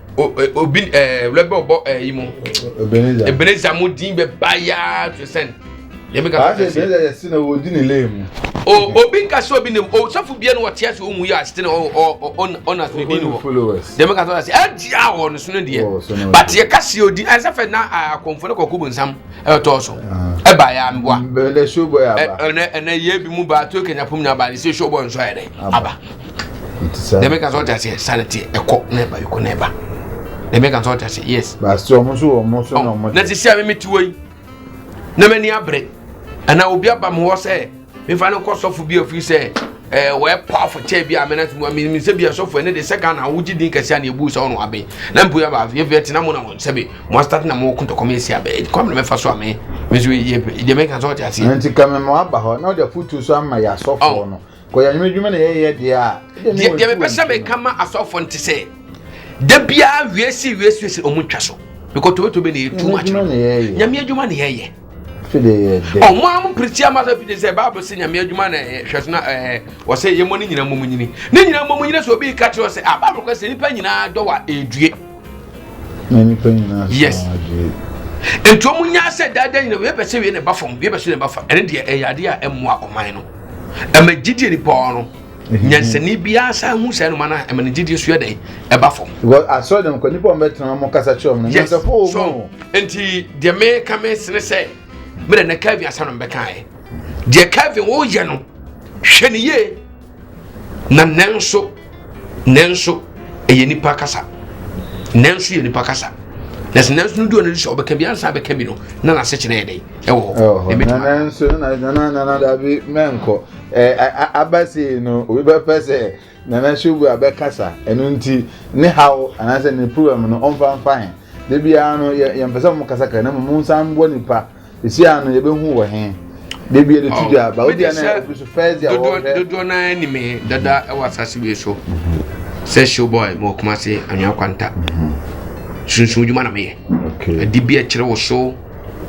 obi ɛɛ wulɛ bɛ ɔbɔ ɛɛ yi mu ebeneza mu din bɛ ba yaa to sɛn yɛn bɛ ka fɔ ɛsɛ ebeneza yɛ sinɛ o di ne lee mu o obi nka sɛ obi ne o sɔfo bia no ɔte ase ohun yi ase ne ɔ ɔ ɔ ɔna so ne din wɔ yɛn bɛ ka sɔ ase ɛdi a wɔ ne so ne deɛ but yɛ kasi odi ɛsɛ fɛ na akɔnfo ne kɔkɔ bu nsam ɛtɔ so ɛba yaa mi wa ɛnɛ ɛnɛ yɛ bi mu ba to kenya pom na ba ne se show bɔ nsɔ yɛ dɛ aba. dɛm ɛka sɛ ɔte aseɛ sane te ɛkɔ na ɛba ɛkɔ na ɛba dɛm ɛka sɛ ɔte aseɛ yes na sisi a meme tiwɔ yi na m'ani abere ɛna obi aba me hɔ sɛ mefa no kɔ sɔfo bi afiri sɛ ɛɛ wɔyɛ powerful kyɛ bi a mena te mu a menim sɛ bi a sɔfo ɛne de sɛ ghana a wogye din kɛse a ne ɛbu sɛ ɔno abe na mpo yɛba afei afei ɛtena mo na mo sɛbe mo astate na mo kotɔkɔ me ɛsi abɛ kɔ mene mɛfa so a me me so yɛ deɛ mɛka sɛ ɔte aseɛ nti ka me mo aba hɔ na ɔde afotuo so ama yɛ asɔfoɔ no Kɔyɛ anwummerɛ adwuma na yɛyɛ deɛ a. Deɛ deɛ mepɛ sɛ meka ma asɔfoɔ no te sɛ da biara wie si wie si sɛ ɔmo ntwa so because tobetobe na yɛ too much no nyame adwuma na yɛyɛ ɔmo a mo pirikyi ama sɛ fide sɛ bible sɛ nyame adwuma na ɛyɛ hwɛ so na ɛɛ wɔsɛ yɛmmɔ ne nyina mmom nyini ne nyina mmom nyini sɛ obi ka kyerɛ sɛ a ah, bible kɔ sɛ nipa nyinaa dɔ wa ɛdue yes nti wɔn nyinaa sɛ daadaa nyinaa wei pɛ sɛ wei na ɛba fam wei pɛ sɛ na ɛba fam ɛne deɛ ɛyɛ adeɛ a ɛmmoa ɔman no ɛmɛ gyidie nipa ɔno nyansani biara san hu saa noma no a ɛma ne gyidie so yɛ dɛn ɛba fam asɔre dɛm kɔ nipa ɔmbɛtena ɔmo kasa kyerɛ ɔmo no nyansafo wɔ mu nti deɛ meka me sene sɛ mede ne Kevin asɛm no mbɛkaeɛ deɛ Kevin woyɛ no hwɛ ne yie Na nanso, nanso ɛyɛ nipa kasa. Nanso yɛ nipa kasa. Na sɛ nanso no du ɔno sɛ ɔbɛka bi ansa bɛka bi no na n'asekyerɛ yɛ dɛn ɛwɔ hɔ. Na nanso na nana nana dabi mɛnkɔ ɛɛ abasi no obi bɛpɛ sɛ nana subu abɛkasa ɛno nti ne haw anaasɛ ne problem no ɔnfa nfa he. Debi ara no yɛ yɛn pɛ sɛ mo kasa kasa na mo nsa mbɔ nipa Esi ano yɛ bɛ hu wɔ he. Debi yɛ de tu di aba. Obi a na yɛ ofi so first di a wɔ hwɛ. Dodoɔ na yɛ ni me dada ɛwɔ asase wei so. Sɛ show boy mo kuma se anwia kwanta. Sunsun juma na me yɛ. Okay. Adi bi ɛkyerɛ wɔ so.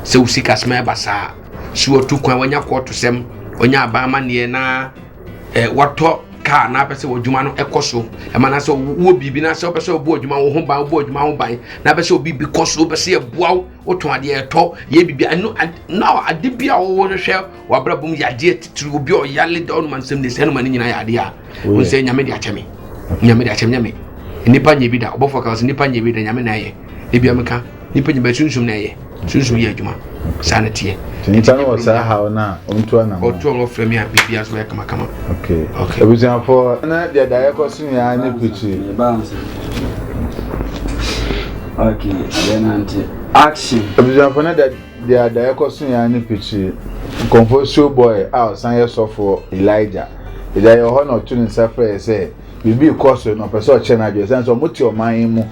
Sɛ usi kasima yɛ basaa. Si wɔ tu kwan wanya kɔɔto sɛm. Wanya aban ma neɛ na eh, wɔtɔ kaa na apɛ sɛ w'adwuma no ɛkɔ so ɛma na sɛ wowɔ biribi na sɛ wopɛ sɛ wobɔ adwuma wo ho ban wobɔ adwuma ho ban na apɛ sɛ obi bi kɔ so wopɛ sɛ yɛboa wo wotɔn adeɛ ɛtɔ yɛ biribi ɛno na ade bi a wɔwɔ no hwɛ w'abrabɔ mu yɛ adeɛ titiri obi a ɔyale da ɔnoma nsɛm de sɛ ɛnoma no nyinaa yɛ adeɛ a wɔn sɛ nyame de akyɛ me nyame de akyɛ me nyame nipa nyɛ bi da ɔbɔfoɔ ka sɛ nipa nyɛ bi da nyame na ɛyɛ ebi ameka nipa nyɛ bi sunsun na ɛyɛ sunsun yɛ adwuma saa na teɛ. nipa no wɔ saa haw no a ɔntu anam ɔtu a wɔfrɛ me a biribi aso yɛ kamakama. abusuafoɔ na deɛ daeɛ kɔ so nyinaa ne pikyi. Okay, yɛ nante. Action! Abusuafo no da de a daeɛ kɔ so yɛn ne pikyiri Nkɔmfoɔ Show Boy a ɔsan yɛ sɔfoɔ Elijah Agya yɛ wɔ hɔ na ɔto ne nsa frɛ yɛ sɛ biribi rekɔ so na ɔpɛ sɛ ɔkyerɛ n'adwene ɛsiane sɛ ɔmo te ɔman yi mu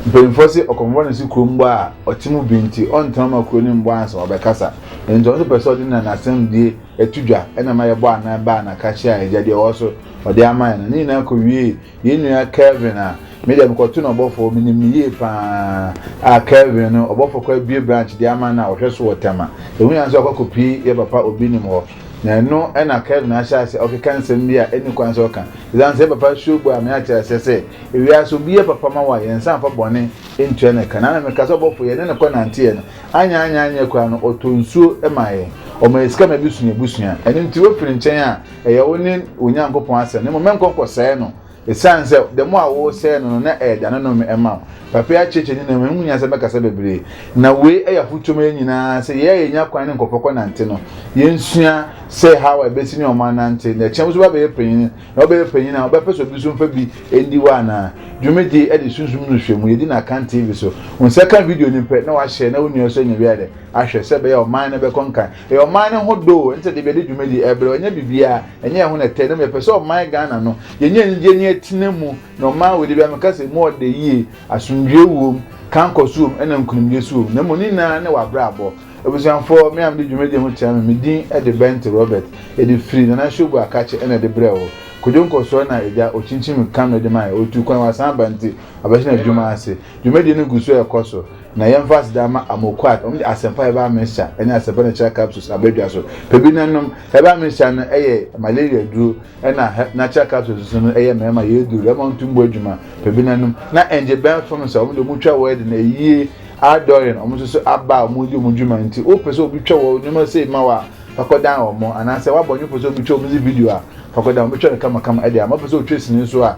mpanyinfoɔ se ɔkɔmfoɔ no se kurom bɔ a ɔte mu bi nti ɔntena ma kuro no mbɔ ansa ɔbɛkasa ɛno nti ɔno nso pɛ sɛ ɔde na n'asɛm die ɛto dwa ɛna ma yɛbɔ anan baa na ka kyerɛ a agya deɛ ɔwɔ so ɔde ama yɛ no ne nyinaa kɔ wie Yɛn nua Kelvin a me deɛ mekɔto no ɔbɔfoɔ, menim no yie pa ara. Ah, Kelvin no, ɔbɔfoɔ kɔ abue branch de ama no a ɔhwɛ so wɔ Tema. Ɛho hia sɛ ɔkɔ akɔpie yɛ papa Obinim hɔ. Na ɛno na Kelvin ahyɛ aseɛ ɔkeka nsɛm bi a ɛnni kwan sɛ ɔka. Ɛsiane sɛ yɛ papa suo bɔ a, me ate aseɛ sɛ, ewiase obi yɛ papa ma wo a, yɛn nsa mfa bɔne ntua no ka. Na na meka sɛ ɔbɔfoɔ, yɛne no kɔnanteeɛ no, anyɛ anyɛ anyɛ koraa no, ɔtɔ nsuo maa yɛn. Ɔma yɛn sika ma yɛbɛsu yɛn abusua. Ɛno nti, wofi ne nkyɛn a, Ɛyɛ wo ne wo Nyankopɔn asɛm, na mmom mɛnkɔ nkɔsɛe no, esiane sɛ da mu a woresɛe no no na ɛyɛ da no nnome mma wo. Papayi akyerɛkyerɛ nninnam mu, ɛho hia sɛ mɛkasa bebree. Na wei yɛ afotu ma yɛn nyinaa, sɛ yɛn a yenya kwan ne nkurɔfo kɔnante no, yensua sɛ Hawa a ebesi ne ɔman nante, na ɛkyɛn wusɔre abɛyɛ panyin, na wobɛyɛ panyin a, wobɛpɛ sɛ obi nso mfa bi ndi wo anaa? Dwumadi de Sunsum no Hwɛ Mu, Yedi no Akan TV so. Wo nsa ka video no pɛ na woahyɛ na wo nua nso anya wiayɛ ahwɛ sɛ ɛbɛyɛ a ɔman no bɛkɔ nkan. Ɛyɛ ɔman no ho dɔ o, ɛne sɛdeɛ bia yɛde dwumadi ɛbrɛ, ɛnyɛ biribiaa, ɛnyɛ ɛho na ɛtɛ, na mmom yɛpɛ sɛ ɔman Ghana no, yɛnya anigyeɛ na yɛtena mu, na ɔman wei deɛ bia meka sɛ mu ɔdɛ yie, asomdwoeɛ wom, kankɔso wom, ɛna nkunimdie nso wom, na mmom ne nyinaa ne w'abrabɔ. Abusuafoɔ, me a mede dwumadi yi ho kyerɛ me, me din de Bente Robert, yɛde firi Nana Ashogbo Akakye na ɛde brɛɛ wo. Kwadwo nkɔsoɔ na agya, ɔkyinkyim kano de maeɛ, ɔtuu kwan wɔ asan aba nti, wabɛhyɛ n'adwuma ase. Dwumadie no gu so ɛrekɔ so, Na yɛmfa aseda ma Amoquart, wɔn de Asɛmpa a Ɛbaa America ne Asɛmpa no Natural Capsules aba dwa so. Pɛ bi na nom. Ɛbaa America no yɛ malaria duro, ɛnna Natural Capsules nso no yɛ mmarima yere duro, ɛma wɔntum bɔ adwuma. Pɛ bi na nom. Na ɛngye bɛn fam sɛ wɔn de wɔtwa wɔ de no ayie, adɔre, wɔn nso so aba a wɔredi wɔn dwuma nti. Wopɛ sɛ obi twa wɔ nneɛma sei ma wo a, fa kɔdan wɔn. Anaasɛ w'abɔnefo pɛ sɛ obi twa wɔn dze video a, fa kɔdan wɔn. Wɔbɛtwa no kamakama de ama wo. Wopɛ sɛ wotwa sini nso a,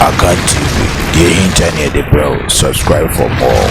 Akan TV, deɛ ɛhinta ne yɛde brɛ wo. Subscribe for more.